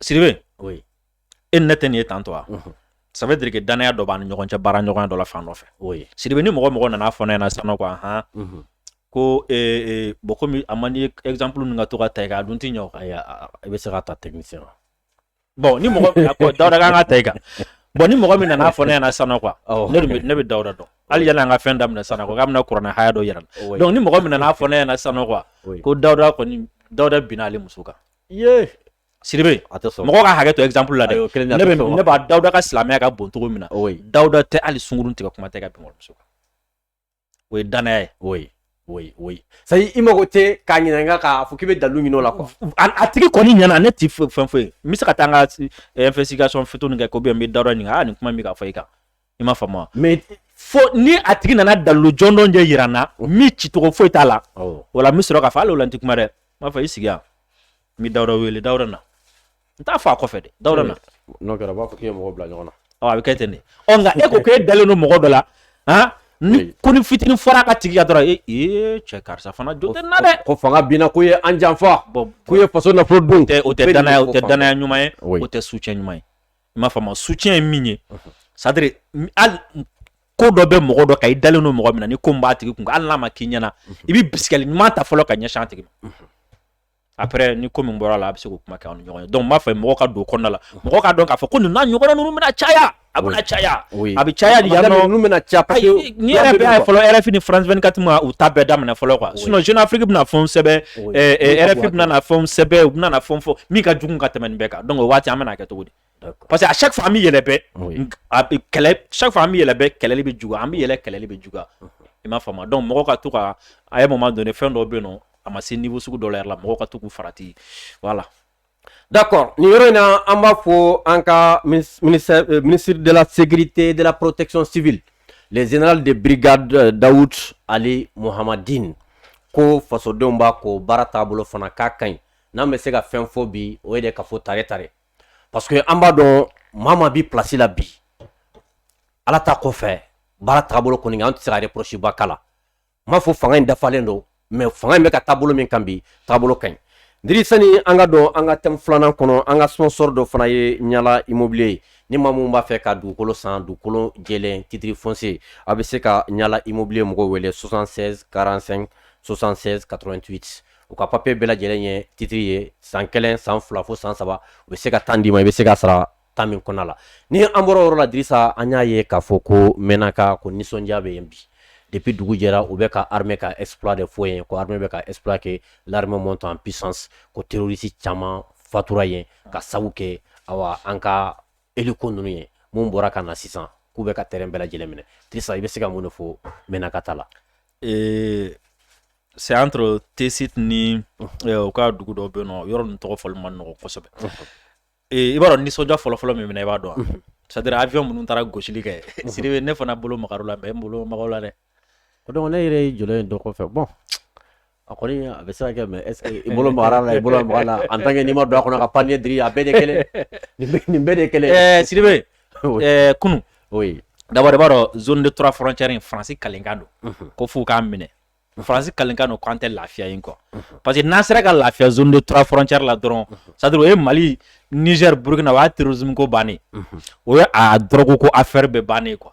sidibe e ne tɛ nin ye tantɔ wa ça veut dire que danaya dɔ b'an ni ɲɔgɔn cɛ baara ɲɔgɔnya dɔ la fan dɔ fɛ sidibe ni mɔgɔ mɔgɔ nana fɔ ne ɲɛna sisan ko hɔn ko bɔn kɔmi a man di ezanp ninnu ka to ka ta i kan a dun tɛ ɲɛ o i bɛ se ka ta tɛmɛ se bɔn ni mɔgɔ dawuda an k'a ta i kan bɔn ni mɔgɔ min nana fɔ ne ɲɛna sisan quoi ne bɛ dawuda dɔn hali yanni an ka fɛn daminɛ sisan k'a bɛna kuranɛ haya dɔ yira dɔnku ni mɔgɔ min nana fɔ ne ɲɛna sisan quoi ko dawuda dawuda binna ale muso kan sidibe mɔgɔ ka hakɛ to exemple la dɛ ne b'a dawuda ka silamɛya ka bon cogo min na dawuda tɛ hali sungurun tigɛ kuma tɛ ka bin walimuso kan o ye danaya ye o ye o ye o ye sayi i mago tɛ k'a ɲininka k'a fɔ k'i bɛ dalu ɲini o la a tigi kɔni ɲɛna ne tɛ fɛn foyi n bɛ se ka taa n ka investigation fitinin kɛ ko n bɛ dawuda ɲininka aa nin kuma in bɛ ka fɔ i kan i m'a faamu mais fo ni a tigi nana dalilu jɔnjɔn de yira n na min cicogo foyi t'a la o la n bɛ sɔrɔ k'a fɔ hali o la n tɛ kuma dɛ n b'a fɔ i sigi yan n bɛ dawuda wele dawuda na n t'a fɔ a kɔfɛ dɛ dawuda na n'o kɛra a b'a fɔ k'i ye mɔgɔ bila ɲɔgɔn na ɔ a bɛ kɛ ten de ɔ nka e ko k'e dalen don mɔgɔ dɔ la han ni konin fitinin fɔra a tigi kan dɔrɔn ee ee cɛ karisa fana jo tɛ n na dɛ ko fanga binna k'u ye an janfa k'u ye faso nafolo dun o tɛ danaya o tɛ danaya ɲuman ye o tɛ soutien ɲuman ye i m'a faamu soutien ye min ye c'est-à-dire hali ko dɔ bɛ mɔgɔ dɔ kan i dalen don mɔgɔ min na ni ko min b'a tigi kun hali n'a ma k'i ɲɛna i bɛ bisigili ɲuman ta fɔlɔ ka ɲɛsin a tigi ma après ni ko min bɔra la a bɛ se k'o kuma kɛ aw ni ɲɔgɔn ye donc n b'a fɛ mɔgɔ ka don o kɔnɔna la mɔgɔ k'a dɔn k'a fɔ ko nin n'a ɲɔgɔnna ninnu bɛna caya a bɛna caya a bɛ caya de yan nɔ ninnu bɛna caya parce que nin yɛrɛ bɛ fɔlɔ RFI ni France 24 ma u ta bɛɛ daminɛ fɔlɔ quoi sinon Jeune Afrique bɛna fɛnw sɛbɛn RFI bɛna na fɛnw sɛbɛn u bɛna na fɛnw fɔ min ka jugu ka tɛmɛ nin bɛɛ kan donc o waati an bɛna kɛ cogo parce que à chaque fois an bɛ yɛlɛ bɛɛ kɛlɛ chaque fois an bɛ yɛlɛ bɛɛ kɛlɛli bɛ juguya an bɛ yɛlɛ kɛlɛli bɛ juguya i m'a faamu donc mɔgɔ ka to ka à un moment donné fɛn dɔ bɛ yen nɔ a ma se niveau sugu dɔ la yɛrɛ la mɔgɔ ka to k'u farati voilà. D'accord nin yɔrɔ in na an b'a fɔ an ka ministère euh, ministre de la sécurité de la protection civile le général de brigade euh, Daoud Aly Mohammedine ko fasodenw b'a kɔ baara taabolo fana k'a ka ɲi n'an bɛ se ka fɛn fɔ bi o ye de ka fɔ tare tare parce que an b'a dɔn maa maa bi place la bi ala ta kɔfɛ baara taabolo kɔni an tɛ se ka reproche ba k'a la n m'a fɔ fanga in dafalen don mais fanga in bɛ ka taabolo min kan bi taabolo ka ɲi diri sani an ka don an ka thème filanan kɔnɔ an ka sponsor dɔ fana ye ɲala immobilier ye ni maa minnu b'a fɛ ka dugukolo san dugukolo jɛlen titre foncier a bɛ se ka ɲala immobilier mɔgɔw wele 76 45 76 88 u ka papier bɛɛ lajɛlen ye titre ye san kelen san fila fo san saba u bɛ se ka temps d'i ma i bɛ se ka sara temps min kɔnɔna la ni an bɔra o yɔrɔ la Dirisa an y'a ye k'a fɔ ko Menaka ko nisɔndiya bɛ yen bi depuis dugu jɛra u bɛ ka armée ka exploit de fɔ yen ko armée bɛ ka exploit kɛ l'armée monte en puissance ko terroriste caman fatura yen ka sabu kɛ ayiwa an ka hélico ninnu ye minnu bɔra ka na sisan k'u bɛ ka terrain bɛɛ lajɛlen minɛ Dirisa i bɛ se ka mun de fɔ Menaka ta la c'est entre Tessit ni uh -huh. euh, u ka dugu dɔ bɛ yen nɔ yɔrɔ ninnu tɔgɔ fɔli man nɔgɔ kosɛbɛ uh -huh. i b'a dɔn nisɔndiya fɔlɔfɔlɔ min minɛ i b'a dɔn uh -huh. c'est à dire avion minnu taara gosili kɛ Sidibe ne fana bolo magar'u la mais n bolo mag'u la dɛ o donc ne yɛrɛ ye jɔlen dɔ kɔfɛ bon a kɔni a bɛ se ka kɛ mais est ce que i bolo magar'a la i bolo magar'a la en tant que n'i ma don a kɔnɔ ka pan n'a ye diri a bɛɛ de kelen nin bɛɛ de kelen ɛɛ Sidibe ɛɛ kunu oui d'abord i b'a dɔn zone de trois frontière in faransi kalenkan don ko f'u k'a minɛ faransi kalenkan don k'an tɛ lafiya yen quoi parce que n'an sera ka lafiya zone de trois frontière la dɔrɔn c'est à dire o ye mali niger burkina o y'a terrorisme ko bannen o ye a drogue ko affaire bɛɛ bannen quoi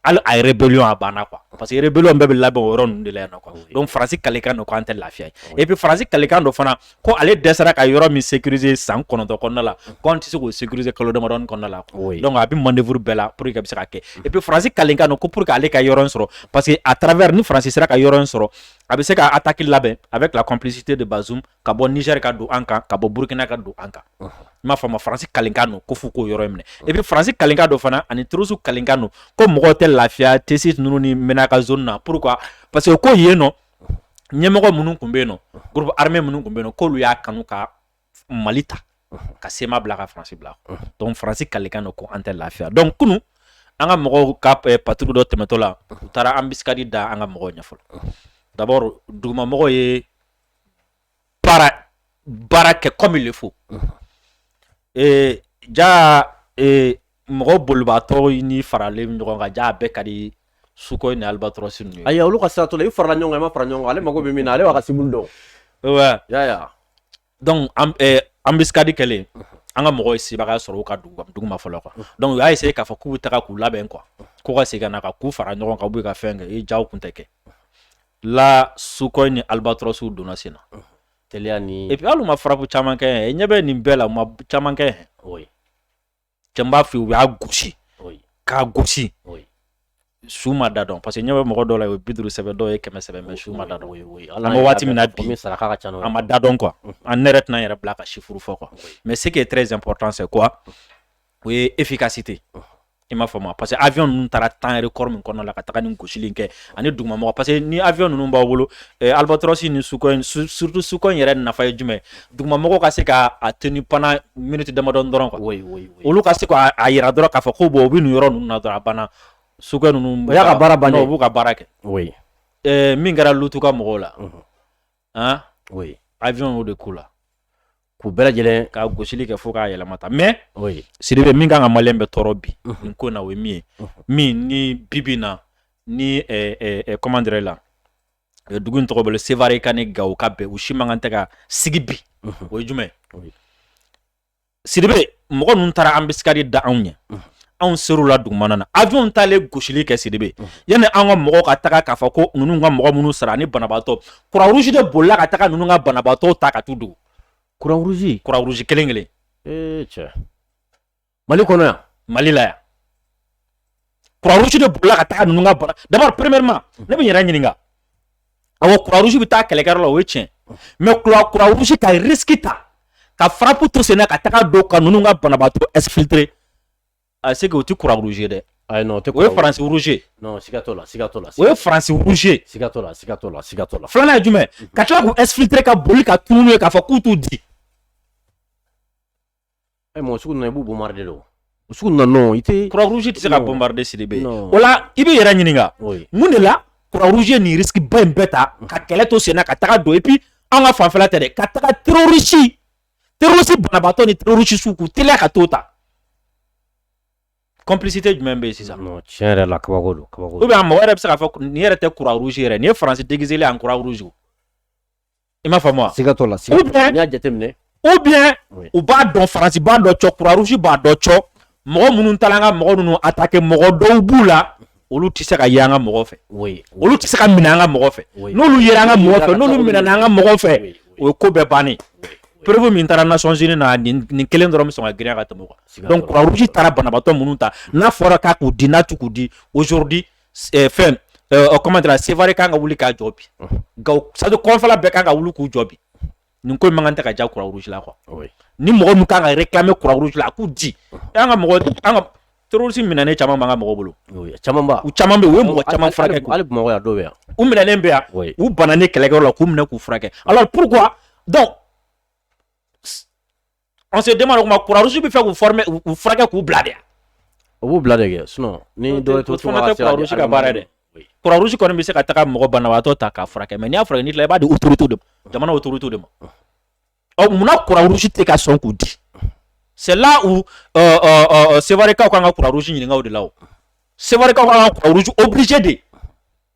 hali a ye rébellion a banna quoi parce que rébellion bɛɛ bɛ labɛn o yɔrɔ ninnu de la yan nɔ quoi donc faransi kalekan don k'an tɛ lafiya yen et puis faransi kalekan don fana ko ale dɛsɛra ka yɔrɔ min sécuriser san kɔnɔntɔn kɔnɔna la ko an tɛ se k'o sécuriser kalo damadɔni kɔnɔna la donc a bɛ manœuvre bɛɛ la pour que a bɛ se ka kɛ et puis faransi kalenkan don ko pour que ale ka yɔrɔ in sɔrɔ parce que à travers ni faransi sera ka yɔrɔ in sɔrɔ a bɛ se ka attaque labɛn avec la complicité de Bazoum ka bɔ Niger ka don an kan ka bɔ Burkina ka don an kan i m'a faamu faransi kalenkan don ko f'u k'o yɔrɔ in minɛ et puis faransi kalenkan don fana ani terroriste kalenkan don ko mɔgɔw tɛ lafiya Tessit ninnu ni Menaka zone na pourquoi parce que ko yen nɔ ɲɛmɔgɔ minnu tun bɛ yen nɔ groupe armé minnu tun bɛ yen nɔ k'olu y'a kanu ka mali ta ka CMA bila ka faransi bila donc faransi kalekan don ko an tɛ lafiya donc kunun an ka mɔgɔw ka patrouille dɔ tɛmɛtɔ la u taara embuscade da an ka mɔgɔw ɲɛ fɔlɔ d'abord dugumamɔgɔw ye baara baara kɛ comme il le faut ee ja ee mɔgɔ bolibaatɔ ni faralen ɲɔgɔn kan ja a bɛɛ ka di suko ni albatros ninnu ye ayi olu ka sira t'o la i farala ɲɔgɔn kan i ma fara ɲɔgɔn kan ale mago bɛ min na ale b'a ka cible dɔn ouais. ya ya donc an eh, embuscade kɛlen an ka mɔgɔw ye sebagaya sɔrɔ u ka dugu dugu ma fɔlɔ quoi donc u y'a essayer k'a fɔ k'u bɛ taga k'u labɛn quoi k'u ka segin ka na ka k'u fara ɲɔgɔn kan u bɛ ka fɛn kɛ i jaw kun tɛ kɛ la suko ni albatrosw donna sen na teliya ni et puis hali u ma frappe caman kɛ yan ɲɛ bɛ nin bɛɛ la u ma caman kɛ yan oui cɛ n b'a f'i ye u y'a gosi oui k'a gosi oui su ma da dɔn parce que ɲɛ bɛ mɔgɔ dɔw la o ye bi duuru sɛbɛn dɔw ye kɛmɛ sɛbɛn mais su ma da dɔn oui oui an bɛ waati min na bi komi saraka ka ca n'o ye a ma da dɔn quoi an ne yɛrɛ tɛna n yɛrɛ bila ka chiffre fɔ quoi mais ce qui est très important c'est quoi o ye efficacité i m'a faamu parce que avion ninnu taara temps record min kɔnɔna la ka taga nin gosili in kɛ ani dugumamɔgɔ parce que ni avion ninnu b'aw bolo eh, albatros ni suko surtout suko yɛrɛ nafa ye jumɛn dugumamɔgɔw ka se ka a tenu pendant minute damadɔni dɔrɔn quoi oui, oui, oui. olu ka se k'a yira dɔrɔn k'a fɔ ko bon u bɛ nin yɔrɔ ninnu na dɔrɔn a banna suko ninnu o y'a ka baara bannen u b'u ka baara kɛ oui. eh, min kɛra lutu ka mɔgɔw la uh -huh. hein? oui. avion y'o de k'u la k'u bɛɛ lajɛlen ka gosili kɛ fo k'a yɛlɛma ta mais sidibe min kan ka maliyɛn bɛɛ tɔɔrɔ bi nin ko in na o ye min ye min ni bibi na ni comment dirais la dugu tɔgɔ bɛ sevare ka ni gawo ka bɛn u si man kan tɛ ka sigi bi o ye jumɛn sidibe mɔgɔ ninnu taara embuscade da anw ɲɛ anw ser'u la dugumana na avion taalen gosili kɛ sidibe yanni an ka mɔgɔw ka taga k'a fɔ ko ninnu ka mɔgɔ minnu sara ni banabaatɔ croix rouge de bolila ka taga ninnu ka banabaatɔw ta ka t'u dogo croix rouge croix rouge kelen kelen ee cɛ mali kɔnɔ yan mali la yan croix rouge de bolila ka taa ninnu ka bana d'abord premièrement ne bɛ n yɛrɛ ɲininka awɔ croix rouge bɛ taa kɛlɛkɛyɔrɔ la o ye tiɲɛ mais croix rouge ka risque ta ka frappe to sen na ka taga don ka ninnu ka banabaatɔ exfiltrer a c'est que o tɛ croix rouge ye dɛ ayi non o tɛ o ye faransi rouge non siga t'o la siga t'o la o ye faransi rouge siga t'o la siga t'o la siga t'o la filanan ye jumɛn ka tila k'u exfiltrer ka boli ka tunu n'u ye k'a fɔ k'u t'u di Ɛ mɔgɔ sugu ninnu i b'u bombarder de o sugu ninnu non i tɛ croix rouge tɛ se ka bombarder sidibe o la i b'i yɛrɛ ɲininka mun de la croix rouge ye nin risque ba in bɛɛ ta ka kɛlɛ to senna ka taga don et puis an ka fanfɛla tɛ dɛ ka taga terroriste terroriste banabaatɔ ni terroriste suw k'u teliya ka t'u ta complicité jumɛn bɛ yen sisan non tiɲɛ yɛrɛ la kabako don kabako don ou bien mɔgɔ yɛrɛ bɛ se k'a fɔ nin yɛrɛ tɛ croix rouge yɛrɛ nin ye France déguisé en croix rouge i m'a faamu siga t'o la n'i y'a jateminɛ ou bien u b'a dɔn faransi b'a dɔn cɔ Croix Rouge b'a dɔn cɔ mɔgɔ minnu taara an ka mɔgɔ ninnu attaquer mɔgɔ dɔw b'u la olu tɛ se ka ye an ka mɔgɔ fɛ olu tɛ se ka minɛ an ka mɔgɔ fɛ n'olu yera an ka mɔgɔ fɛ n'olu minɛna an ka mɔgɔ fɛ o ye ko bɛɛ bannen preuve min taara Nations Unies na nin kelen dɔrɔn bɛ sɔn ka girinya ka tɛmɛ o kan donc Croix Rouge taara banabaatɔ minnu ta n'a fɔra k'a k'u di n'a t'u k'u di aujourd'hui eh, fɛn eh, o comment la sevare kan ka wuli k'a jɔ bi gawo c'est à dire kɔrɔnfɛla bɛɛ kan ka wuli k'u jɔ bi nin ko in mankan tɛ ka diya Croix Rouge la quoi oui ni mɔgɔ ninnu kan ka réclamer Croix Rouge la a k'u di an ka mɔgɔ an ka terroriste minɛnen caman b'an ka mɔgɔ bolo oui caman ba u caman bɛ yen u ye mɔgɔ caman furakɛ koyi. hali bamakɔ yan dɔw bɛ yan u minɛnen bɛ yan Oui. u bananen kɛlɛkɛyɔrɔ la k'u minɛ k'u furakɛ alors pourquoi donc An se den ma kɔrɔsi bɛ fɛ k'u u furakɛ k'u bila de u bila de sun ni ka baara dɛ kɔrɔsi kɔni bɛ se ka taa mɔgɔ banabagatɔ ta k'a furakɛ mɛ n'a fɔra' la i b'a u tuurutu don jamana o tuurutu de ma ɔ munna kɔrɔsi tɛ ka sɔn k'u di sɛla u serikaw ka kan ka kɔrɔsi ɲininkakaw de la serikaw ka kɔrɔsi obise de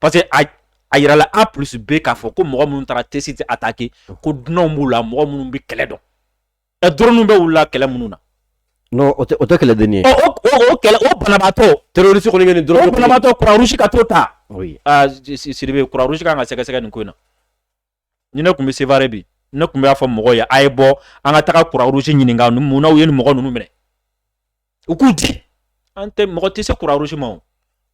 parce que a a yirala A plus B k'a fɔ ko mɔgɔ minnu taara Tessit attaquer ko dunanw b'u la mɔgɔ minnu bɛ kɛlɛ dɔn ɛ drone bɛ wulila kɛlɛ minnu na. Non o tɛ o tɛ kɛlɛdennin ye. Ɔ o o o kɛlɛ o banabaatɔ. Terroriste kɔni bɛ nin drone. O banabaatɔ croix rouge ka t'o ta. Oui aa Sidibe croix rouge ka kan ka sɛgɛsɛgɛ nin ko in na. ni ne tun bɛ sevare bi ne tun b'a fɔ mɔgɔ ye a ye bɔ an ka taga Croix Rouge ɲininka munna u ye nin mɔgɔ ninnu minɛ u k'u di an tɛ mɔgɔ tɛ se Croix Rouge ma o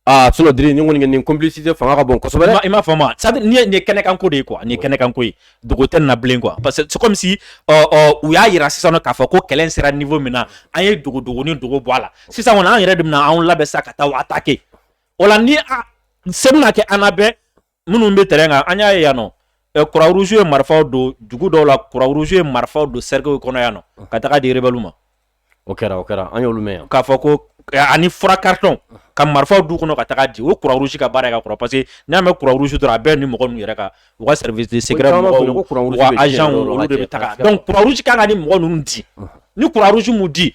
aa c'est à dire ni kɔni nin complicité fanga ka bon kosɛbɛ i m'a faamu c'est à dire nin ye nin kɛnɛkanko de ye quoi nin kɛnɛkanko ye dogo tɛ na bilen quoi parce que c'est comme si u y'a jira sisan k'a fɔ ko kɛlɛ sera niveau min na an ye dogo dogo ni dogo bɔ a la sisan kɔni an yɛrɛ de bɛna anw labɛn sa ka taa attaquer o la ni se kɛ an bɛɛ minnu bɛ tɛrɛn kan an y'a ye yan nɔ kurusu ye marifaw don dugu dɔw la kurusu ye marifaw don sɛw kɔnɔ yan nɔ ka taga diba ma o kɛra o kɛra an y' k'a fɔ ko ani fura karitɔn ka marifaw du kɔnɔ ka taga di o kurusu ka baara ka kɔrɔ parce que n'a mɛ kurusu dɔrɔn a bɛɛ ni mɔgɔ yɛrɛ kan u ka sɛ se kan ka ni mɔgɔ ninnu di ni kurusu di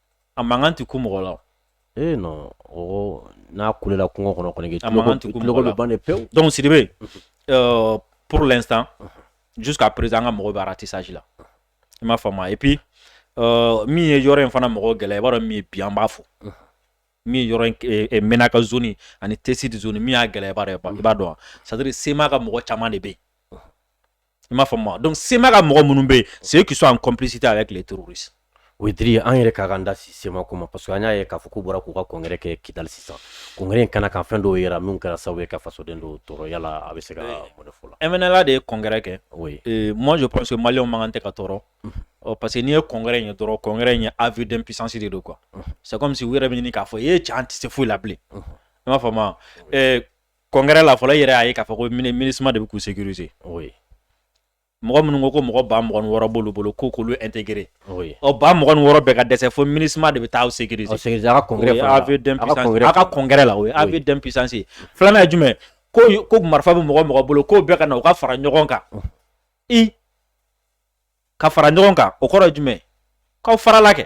a mankan tɛ ku mɔgɔ la ee non o n'a kulela kungo kɔnɔ kɔni a mankan tɛ ku mɔgɔ la bɛ ban de pewu donc Sidibe euh, pour l'instant jusqu'à présent an ka mɔgɔ bɛ ratissage la i m'a faamu et puis euh, min ye yɔrɔ in fana mɔgɔ gɛlɛya i b'a dɔn min ye bi an b'a fɔ min ye yɔrɔ in eh, eh, Menaka zone ani Tessit zone min y'a gɛlɛya i b'a dɔn wa c'est à dire CMA ka mɔgɔ caman de bɛ yen i m'a faamu donc CMA ka mɔgɔ minnu bɛ yen c'est eux qui sont en complicité avec les terroristes o ye diri ye an yɛrɛ ka kan da CMA ko ma parce que an y'a ye k'a fɔ k'u bɔra k'u ka congrès kɛ kidali sisan congrès in kɛnɛ kan fɛn dɔw yera min kɛra sababu ye ka fasoden dɔw tɔɔrɔ yala a bɛ se ka mun de fɔ la MNLA de ye congrès kɛ oui. euh, moi je pense que maliyɛnw man kan tɛ ka tɔɔrɔ mm -hmm. Oh, parce que n'i ye congrès in ye dɔrɔn congrès in ye aveu d'impuissance de don quoi c'est comme si u yɛrɛ bɛ ɲini k'a fɔ e cɛ an tɛ se foyi la bilen i m'a faamu wa congrès la fɔlɔ i yɛrɛ y'a ye k'a fɔ ko MINUSMA de bɛ k'u sécuriser mɔgɔ minnu ko ko mɔgɔ ba mugan ni wɔɔrɔ b'olu bolo ko k'olu intégrer ɔ ba mugan ni wɔɔrɔ bɛɛ ka dɛsɛ fo MINUSMA de bɛ taa aw sécuriser a ka congrès la a ka congrès la o ye aveu d'impuissance ye filanan ye jumɛn ko ko marifa bɛ mɔgɔ o mɔgɔ bolo k'o bɛɛ ka na u ka fara ɲɔgɔn kan i ka fara ɲɔgɔn kan o kɔrɔ ye jumɛn k'aw farala kɛ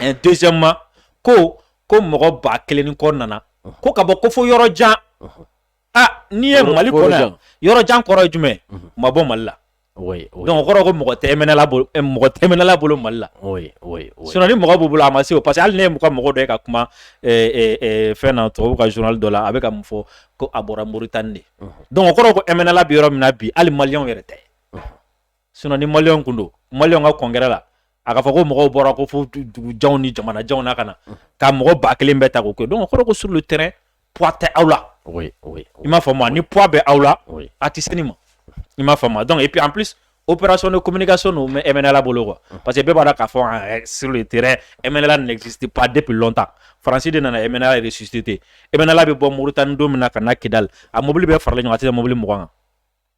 et deuxièmement ko ko mɔgɔ ba kelen ni kɔ nana ko ka bɔ ko fo yɔrɔ jan a n'i ye mali kɔnɔ yɔrɔ jan kɔrɔ ye jumɛn u ma bɔ mali la donc o kɔrɔ ko mɔgɔ tɛ MNLA bolo mɔgɔ tɛ MNLA bolo mali la sinon ni mɔgɔ b'u bolo a ma se o parce que hali ne ye mɔgɔ mɔgɔ dɔ ka kuma fɛn na tubabu ka journal dɔ la a bɛ ka mun fɔ ko a bɔra Mauritanie de donc o kɔrɔ ko MNLA bɛ yɔrɔ min na bi hali maliyɛn yɛrɛ tɛ sinon ni maliyɛnw tun don maliyɛnw ka congrès la a k'a fɔ ko mɔgɔw bɔra ko fo dugujanw ni jamanajanw na ka na ka mɔgɔ ba kelen bɛɛ ta k'o kɛ donc o kɔrɔ ko sur le terrain poids tɛ aw la oui, oui, i m'a faamu ni poids bɛ aw la a tɛ se nin ma i m'a faamu donc et puis en plus opération de communication don mais MNLA bolo quoi parce que bɛɛ b'a dɔn k'a fɔ sur le terrain MNLA n'existe pas depuis longtemps Faransi de nana MNLA ressusciter MNLA bɛ bɔ Mauritanie don min na ka na Kidali a mobili bɛɛ faralen ɲɔgɔn kan a tɛ tɛmɛ mobili mugan kan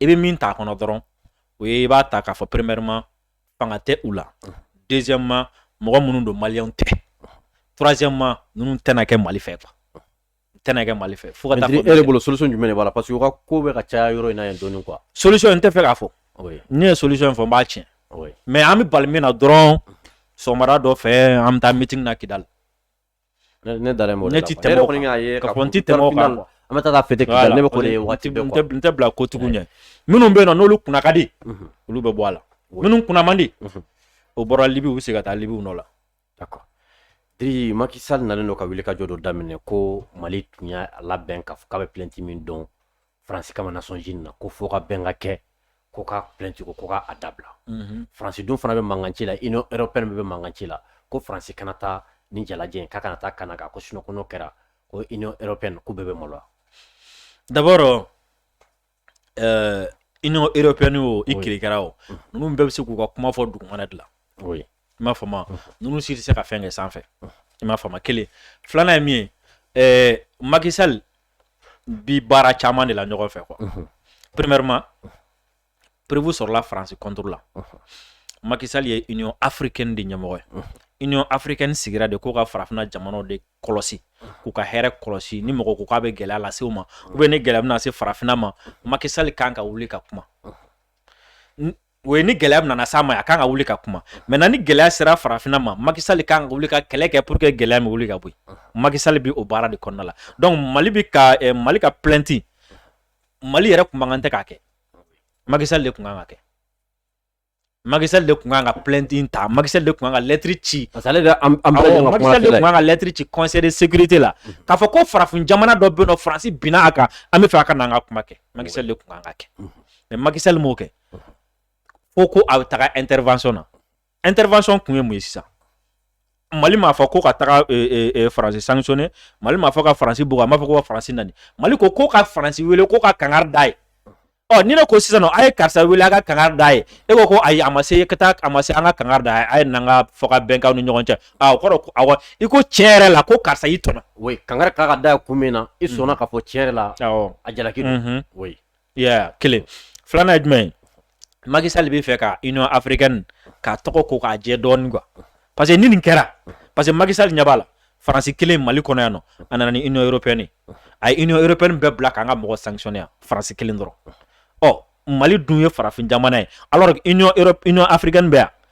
i bɛ min ta kɔnɔ dɔrɔn o ye i b'a ta k'a fɔ premièrement fanga tɛ u la deuxièmement mɔgɔ minnu don maliyɛn tɛ troisièmement ninnu tɛna kɛ mali fɛ quoi tɛna kɛ mali fɛ fo e bolo solution jumɛn b'a la parce que o ka ko bɛ ka caya yɔrɔ in na dɔɔni quoi solution n t'a fɛ k'a fɔ ni n ye solution fɔ n b'a tiɲɛ mais an bɛ bali min na dɔrɔn sɔgɔmada dɔ fɛ an bɛ taa meeting na kidali Ne ne dalen b'o de la quoi ne ti tɛmɛ o kan ne yɛrɛ kɔni y'a ye k'a fɔ n ti tɛmɛ o kan final quoi an bɛ taa taa fête Kidali ne bɛ k'o de ye waati bɛɛ quoi n tɛ bila ko tigiw ɲɛ minnu bɛ yen nɔ n'olu kunna ka di mhm. olu bɛ bɔ a la minnu kunna man di mhm. o bɔra Libi u bɛ segin ka taa Libi u nɔ la d'accord Diri Macky Sall nalen don ka wulikajɔ dɔ daminɛ ko Mali tun y'a labɛn k'a fɔ k'a bɛ plainte min dɔn faransi kama Nations Unies na ko fo ka bɛn ka kɛ ko ka plainte ko ko ka a dabila mhm. faransi dun fana bɛ mankanci la Union européenne bɛ mankanci la ko faransi kana taa ni jalajɛ in k'a kana taa kɛnɛ kan ko sinon ko n'o kɛra ko Union européenne k'u bɛɛ bɛ maloya d'abord euh, Union européenne o i kirikara o mhm. ninnu bɛɛ bɛ se k'u ka kuma fɔ dugumana de la i m'a faamu mhm. ninnu si tɛ se ka fɛn kɛ sanfɛ i m'a faamu kelen filanan ye min ye euh, Macky Sall bi baara caman de la ɲɔgɔn fɛ quoi premièrement preuve sɔrɔla faransi contre la Macky Sall ye Union africaine de ɲɛmɔgɔ ye Union africaine sigira de k'u ka farafinna jamanaw de kɔlɔsi k'u ka hɛrɛ kɔlɔsi ni mɔgɔ ko k'a bɛ gɛlɛya lase u ma ou bien ni gɛlɛya bɛna se farafinna ma Macky Sall kan ka wuli ka kuma o ye ni gɛlɛya nana s'a ma a kan ka wuli ka kuma maintenant ni gɛlɛya sera farafinna ma Macky Sall kan ka wuli ka kɛlɛ kɛ pour que gɛlɛya bɛ wuli ka bɔ Macky Sall bɛ o baara de kɔnɔna la donc mali bɛ ka eh, mali ka plainte mali yɛrɛ tun man kan tɛ k'a kɛ Macky Sall de tun kan k'a kɛ Macky Sall de tun kan ka plainte ta Macky Sall de tun kan ka lettre ci parce ale Macky Sall de tun kan ka lettre ci conseil de sécurité la mhm. k'a fɔ ko farafin jamana dɔ bɛ yen nɔ faransi binna a kan an bɛ fɛ a ka na an ka kuma kɛ Macky Sall de tun kan k'a kɛ mhm. mais Macky Sall m'o kɛ fo ko a bɛ taga intervention na intervention kun ye mun ye sisan mali m'a fɔ ko ka taga e, e, e, faransi sanctionner mali m'a fɔ ka faransi bugu a m'a fɔ ko ka faransi nɛni mali ko ko ka faransi wele ko ka kangari d'a ye ɔ ni ne ko sisan nɔ a ye karisa wele a ka kangari d'a ye e ko ko ayi a ma se ka taa a ma se an ka kangari d'a ye a ye n'an ka fɔkabɛn k'aw ni ɲɔgɔn cɛ a o kɔrɔ ko awɔ i ko tiɲɛ yɛrɛ la ko karisa y'i tɔɲɔ oui kangari kan ka d'a ye kun min na i sɔnna k'a fɔ tiɲɛ yɛrɛ la awɔ a jalaki don oui ya kelen filanan ye jumɛn ye Macky Sall bɛ fɛ ka Union africaine ka tɔgɔ ko k'a jɛ dɔɔnin quoi parce que ni nin kɛra parce que Macky Sall ɲɛ b'a la Faransi kelen Mali kɔnɔ yan nɔ a nana ni Union européenne a ye Union européenne bɛɛ bila k'an ka mɔgɔ sanctionner yan Faransi kelen dɔrɔn ɔ Mali dun ye farafin jamana ye alors que Union Europe Union africaine bɛ yan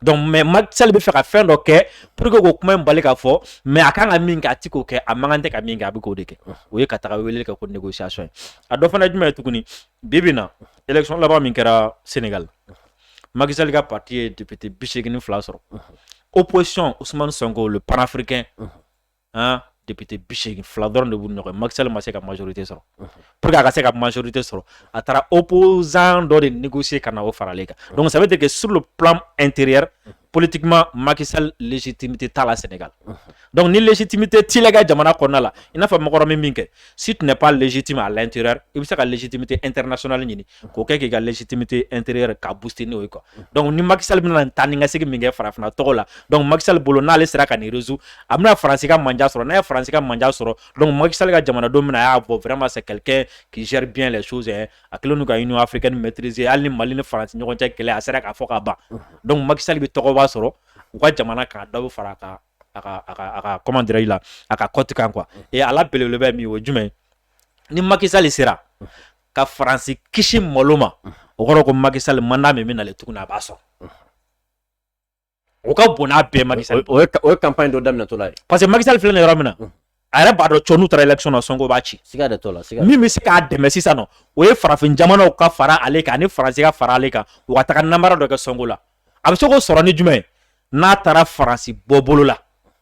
Donc mais Macky Sall bɛ fɛ ka fɛn dɔ kɛ pour que k'o kuma in bali ka fɔ mais a kan ka min kɛ a ti k'o kɛ a man kan tɛ ka min kɛ a bɛ k'o de kɛ o ye ka taga wele kɛ ko négociation ye a dɔ fana ye jumɛn ye tuguni bi bi na élection laban min kɛra Sénégal Macky Sall ka parti ye député bi seegin ni fila sɔrɔ opposition Ousmane Sonko le panafricain an député 80 fila dɔrɔn de b'u ni ɲɔgɔn cɛ Macky Sall ma se ka majorité sɔrɔ pour que a ka se ka majorité sɔrɔ a taara opposant dɔ de négocier ka na o fara ale kan donc ça veut dire que sur le plan intérieur politiquement Macky Sall légitimité t'a la Sénégal donc ni légitimité t'i la i ka jamana kɔnɔna la i n'a fɔ Macron ye min kɛ si tu n'es pas légitime à l'intérieur i bɛ se ka légitimité internationale ɲini k'o kɛ k'i ka légitimité intérieure ka booster n'o ye quoi donc ni Macky Sall bɛna taa ni ka segin min kɛ farafinna tɔgɔ la donc Macky Sall bolo n'ale sera ka nin résoudre a bɛna Faransi ka manja sɔrɔ n'a ye Faransi ka manja sɔrɔ donc Macky Sall ka jamanadenw bɛn'a ye ah bon vraiment c'est quelqu'un qui gère bien les choses hein a kɛlen don ka Union africaine maîtriser hali ni Mali ni Faransi ɲɔgɔn cɛ kɛlɛ a sera k'a fɔ ka ban donc Macky Sall bɛ tɔgɔba sɔrɔ u ka jamana kan dɔ bɛ fara a ka a ka a ka a ka comment dirais-je la a ka cote kan quoi et a la belebeleba ye min ye o ye jumɛn ye ni Macky Sall sera ka faransi kisi malo ma o kɔrɔ ko Macky Sall mandat min bɛ nalen tuguni a b'a sɔrɔ o ka bon n'a bɛɛ Macky o ye campagne dɔ daminɛtɔ ye parce que Macky Sall filɛ yɔrɔ min na a yɛrɛ b'a dɔn cɔ n'u taara élection sɔnko b'a ci min bɛ se k'a dɛmɛ sisan nɔ o ye farafin jamanaw ka fara ale kan ani faransi ka fara ale kan u ka taga nanbara dɔ kɛ sɔnko la a bɛ se k'o sɔrɔ ni jumɛn ye n'a taara faransi bɔ bolo la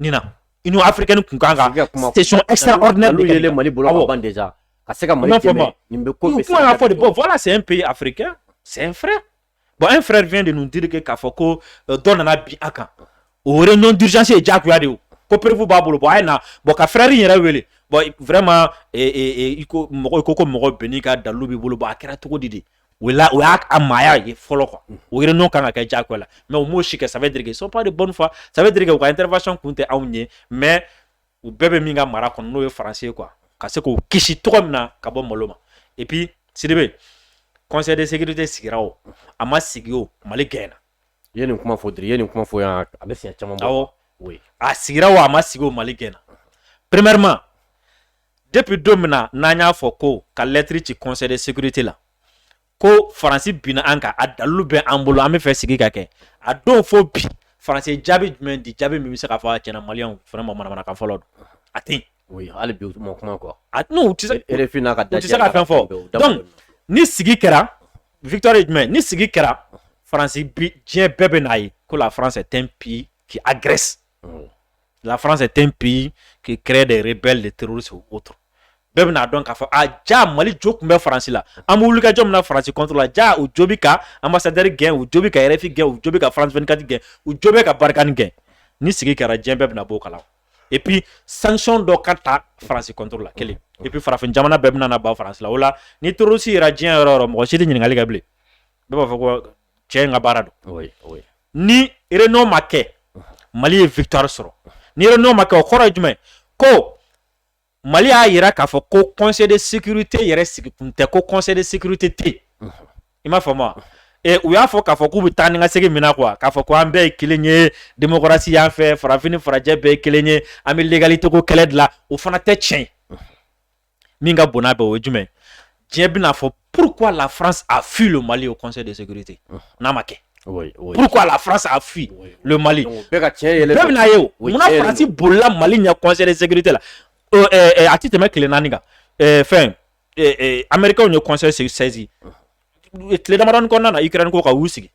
nin na i n'o afirike tun kan kan yɛlɛ mali bolo ka se ka mali nin bɛ ko kuma fɔ de bɔ fɔlɔ sen pe afirike sen fɛ bɔn an fɛɛrɛ fi de ninnu terike k'a fɔ ko euh, dɔ nana bi a kan o yɛrɛ ɲɔgɔn dirizsi ye jagoya de ye ko perefu b'a bolo bɔn a ye na bɔn ka fɛrɛɛrɛ in yɛrɛ wele bɔn vraiment e, e, e, i ko mɔgɔ ko ko mɔgɔ bɛn n'i ka dalu b'i bolo bɔn a kɛra cogo di de o la o y'a a maaya ye fɔlɔ quoi mm. o réunion kan ka kɛ jagoya la mais o m'o si kɛ ça veut dire que ils sont pas de bonne foi ça veut dire que u ka intervention kun tɛ anw ye mais u bɛɛ bɛ min ka mara kɔnɔ n'o ye faransi ye quoi ka se k'o kisi cogo min na ka bɔ malo ma et puis sidibe conseil de sécurité sigira o a ma sigi o mali gaɲɛna i ye nin kuma fɔ diri i ye nin kuma fɔ yan a bɛ siɲɛ caman bɔ awɔ a sigira o a ma sigi o mali gaɲɛna premièrement depuis don min na n'an y'a fɔ ko ka lɛtiri ci conseil de sécurité la ko faransi binna an kan a dalilu bɛ an bolo an bɛ fɛ sigi ka kɛ a don fo bi faransi ye jaabi jumɛn di jaabi min bɛ se k'a fɔ a tiɲɛ na maliyɛnw fana ma manamanakan fɔlɔ don a tɛ yen. oui hali bi u ma kuma quoi. a non u tɛ se RFI n'a ka dajɛ u tɛ se ka fɛn fɔ donc ni sigi kɛra victoire ye jumɛn ni sigi kɛra faransi bi diɲɛ bɛɛ bɛ n'a ye ko la France est un pays qui agresse. la France est un pays qui crée des rebelles des terroristes ou autres bɛɛ bɛn'a dɔn k'a fɔ a ja mali jo tun bɛ faransi la an bɛ wuli ka jɔ min na faransi contre la ja u jo bɛ ka ambassadeur gɛn u jo bɛ ka rfi gɛn u jo bɛ ka france 24 gɛn u jo bɛ ka Barkhane gɛn ni sigi kɛra diɲɛ bɛɛ bɛna bɔ o kalama et puis sanction dɔ ka ta faransi contre la kelen et puis farafin jamana bɛɛ bɛna na ban faransi la o la ni terroriste yera diɲɛ yɔrɔ o yɔrɔ mɔgɔ si tɛ ɲininkali kɛ bilen bɛɛ b'a fɔ ko cɛ in ka baara don ni réunion ma kɛ mali ye victoire sɔrɔ ni réunion ma kɛ o kɔrɔ ye jumɛn ko mali y'a yira k'a fɔ ko conseil de sécurité yɛrɛ sigi kun tɛ ko conseil de sécurité tɛ i m'a faamu wa u y'a fɔ k'a fɔ k'u bɛ taa ni ka segin min na quoi k'a fɔ ko an bɛɛ ye kelen ye démocratie y'an fɛ farafin farajɛ bɛɛ ye kelen ye an bɛ l'égalité ko kɛlɛ de la o fana tɛ tiɲɛ min ka bon n'a bɛɛ o ye jumɛn diɲɛ bɛn'a fɔ pourquoi la France a fui le Mali au conseil de sécurité n'a ma kɛ Oui, oui. Pourquoi la France a fui oui, oui. le Mali Donc, bɛɛ ka tiɲɛ yɛlɛ bɛɛ bɛna ye o Oui, munna tiɲɛ yɛlɛ Faransi bolila Mali ɲɛ conseil de sécurité la Euh, euh, euh, a ti tɛmɛ tile naani kan Euh, fɛn euh, euh, Américains ye conseil saisi tile damadɔni kɔnɔna na Ukraine ko kan u sigi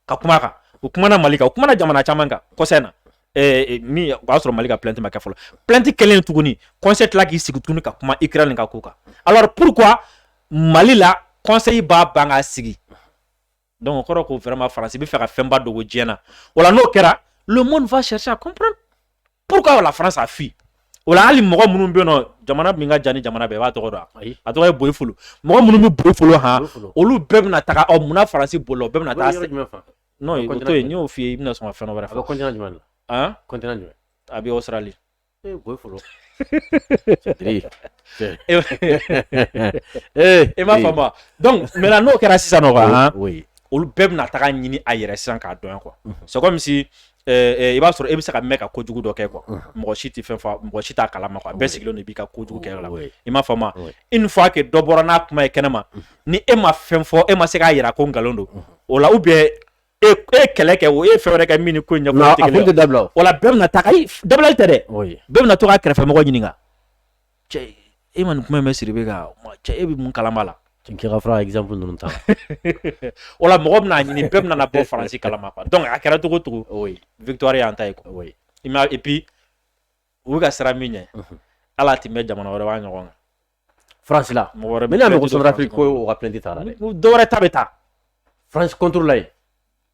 ka kuma kan u kumana mali kan u kumana jamana caman kan kɔsa in na mais o y'a sɔrɔ mali ka plainte ma kɛ fɔlɔ plainte kɛlen tuguni conseil tila k'i sigi tuguni ka kuma ukraine ka ko kan alors pourquoi mali la conseil b'a ban k'a sigi donc o kɔrɔ ko vraiment faransi bɛ fɛ ka fɛnba dogo diɲɛ na wala n'o kɛra le monde va chercher à comprendre pourquoi la France a fui o la hali mɔgɔ minnu bɛ yen nɔ jamana min ka jan ni jamana bɛɛ i b'a tɔgɔ dɔn a a tɔgɔ ye boyi folo mɔgɔ minnu bɛ boyi folo han olu bɛɛ bɛna taga ɔ munna faransi bolila o bɛɛ bɛna taa non o to yen n y'o f'i ye i bɛna sɔn ka fɛn wɛrɛ fɔ a bɛ continent jumɛn la han continent jumɛn a bɛ Australie ee boyi folo e m'a faamu donc maintenant n'o kɛra sisan nɔ quoi olu bɛɛ bɛna taga ɲini a yɛrɛ sisan k'a dɔn quoi c'est comme si i b'a sɔrɔ e bɛ se ka mɛn ka kojugu dɔ kɛ quoi mɔgɔ si tɛ fɛn fɔ mɔgɔ si t'a kala ma quoi bɛɛ sigilen don i b'i ka kojugu kɛ la i m'a faamu une fois que dɔ bɔra n'a kuma ye kɛnɛ ma ni e ma fɛn fɔ e ma se k'a yira ko nkalon don o la ou bien e kɛlɛ kɛ o e fɛɛrɛ kɛ min ko ɲɛ da wala bɛɛ bɛna taa dabilali tɛ dɛ bɛɛ bɛna to k'a kɛrɛfɛmɔgɔ ɲini e ma nin kuma mɛn sidibe ka cɛ e bɛ mun kalama la kɛfa ifamu ninnu ta wala mɔgɔ bɛna a ɲini bɛɛ bɛna bɔ faransi kalama donc a kɛra cogo o cogo victoire y'an ta ye et puis u bɛ ka siran min ɲɛ ala tun bɛ jamana wɛrɛ b'a ɲɔgɔn kɛ faransi la mɔgɔ bɛna mɔgɔ ko dɔwɛrɛ ta bɛ taa faransi contre la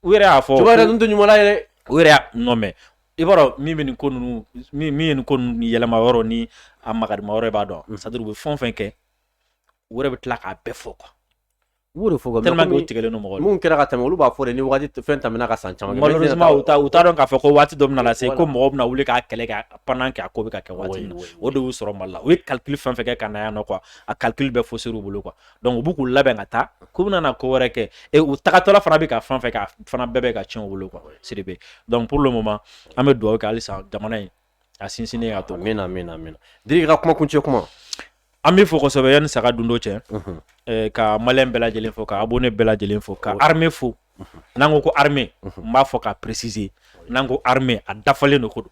u yɛrɛ y'a fɔ cogoya ninnu tɛ ɲuman la yɛrɛ u yɛrɛ y'a non mais i b'a dɔn min bɛ nin ko ninnu min ye nin ko ninnu yɛlɛma yɔrɔ ni a magadima yɔrɔ i b'a dɔn c'est à dire u bɛ fɛn fɛn kɛ u yɛrɛ bɛ tila k'a bɛɛ fɔ quoi u de fɔ ka tellement que u tigɛlen don mɔgɔ la mun kɛra ka tɛmɛ olu b'a fɔ de ni waati fɛn tɛmɛna ka san caman malheureusement u t'a u t'a dɔn k'a fɔ ko waati dɔ bɛna na se ko mɔgɔ bɛna wuli k'a kɛlɛ kɛ pendant que a ko bɛ ka kɛ waati min na o de y'u sɔrɔ Mali la u ye calcul fɛn fɛn kɛ ka na yan nɔ quoi a calcul bɛɛ fausser u bolo quoi donc u bɛ k'u labɛn ka taa k'u bɛna na ko wɛrɛ kɛ et u tagatɔla fana bɛ ka fan fɛ fana bɛɛ bɛ ka tiɲɛ u bolo quoi sidibe donc pour le moment an bɛ dugawu kɛ halisa jamana in a sinsinnen ka to amiina amiina min di ka kuma kuncɛ kuma an bɛ fo kosɛbɛ yanni saga dundo cɛ ka malien bɛɛ lajɛlen fo ka abonné bɛɛ lajɛlen fo ka armée fo n'an ko ko armée n b'a fɔ ka préciser n'an ko armée a dafalen don ko don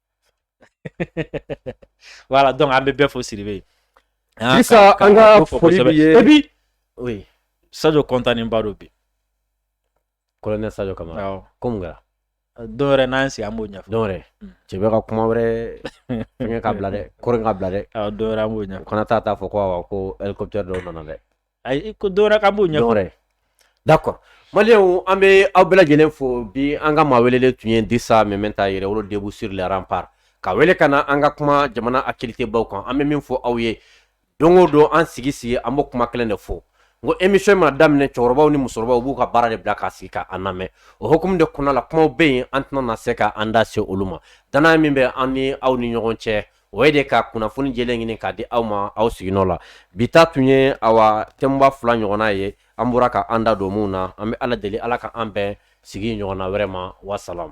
voilà donc an bɛ bɛɛ fo sidibe ye sisan an ka foli b'i ye et puis oui sajo kɔntanenba don bi colonel sajo kamara awɔ ko mun kɛra don wɛrɛ n'an sigi an b'o ɲɛfɔ don wɛrɛ hmm. cɛ bɛ ka kuma wɛrɛ fɛngɛ k'a bila dɛ kɔrɔ k'a bila dɛ awɔ don wɛrɛ an b'o ɲɛfɔ kana taa taa fɔ ko awɔ ko hélicoptère dɔw nana dɛ Ayi ko don wɛrɛ k'an b'o ɲɛfɔ d'accord maliyɛnw an bɛ aw bɛɛ lajɛlen fo bi an ka maa welelen tun ye Dirisa Meminta Yɛrɛwolo debout sur les remparts ka wele ka na an ka kuma jamana actualitébaw kan an bɛ min fɔ aw ye don o don an sigi sigi an bɛ kuma kelen de fɔ ko émission mana daminɛ cɛkɔrɔbaw ni musokɔrɔbaw b'u ka baara de bila k'a sigi k'an lamɛn o hukumu de kɔnɔna la kumaw bɛ yen an tɛna na se k'an da se olu ma dannaya min bɛ an ni aw ni ɲɔgɔn cɛ o ye de ka kunnafoni jɛlen ɲini k'a di aw ma aw siginɔ la bi ta tun ye awa thèmeba fila ɲɔgɔnna ye an bɔra ka an da don minw na an bɛ ala deli ala ka an bɛn sigi ɲɔgɔnna wɛrɛ ma wasalam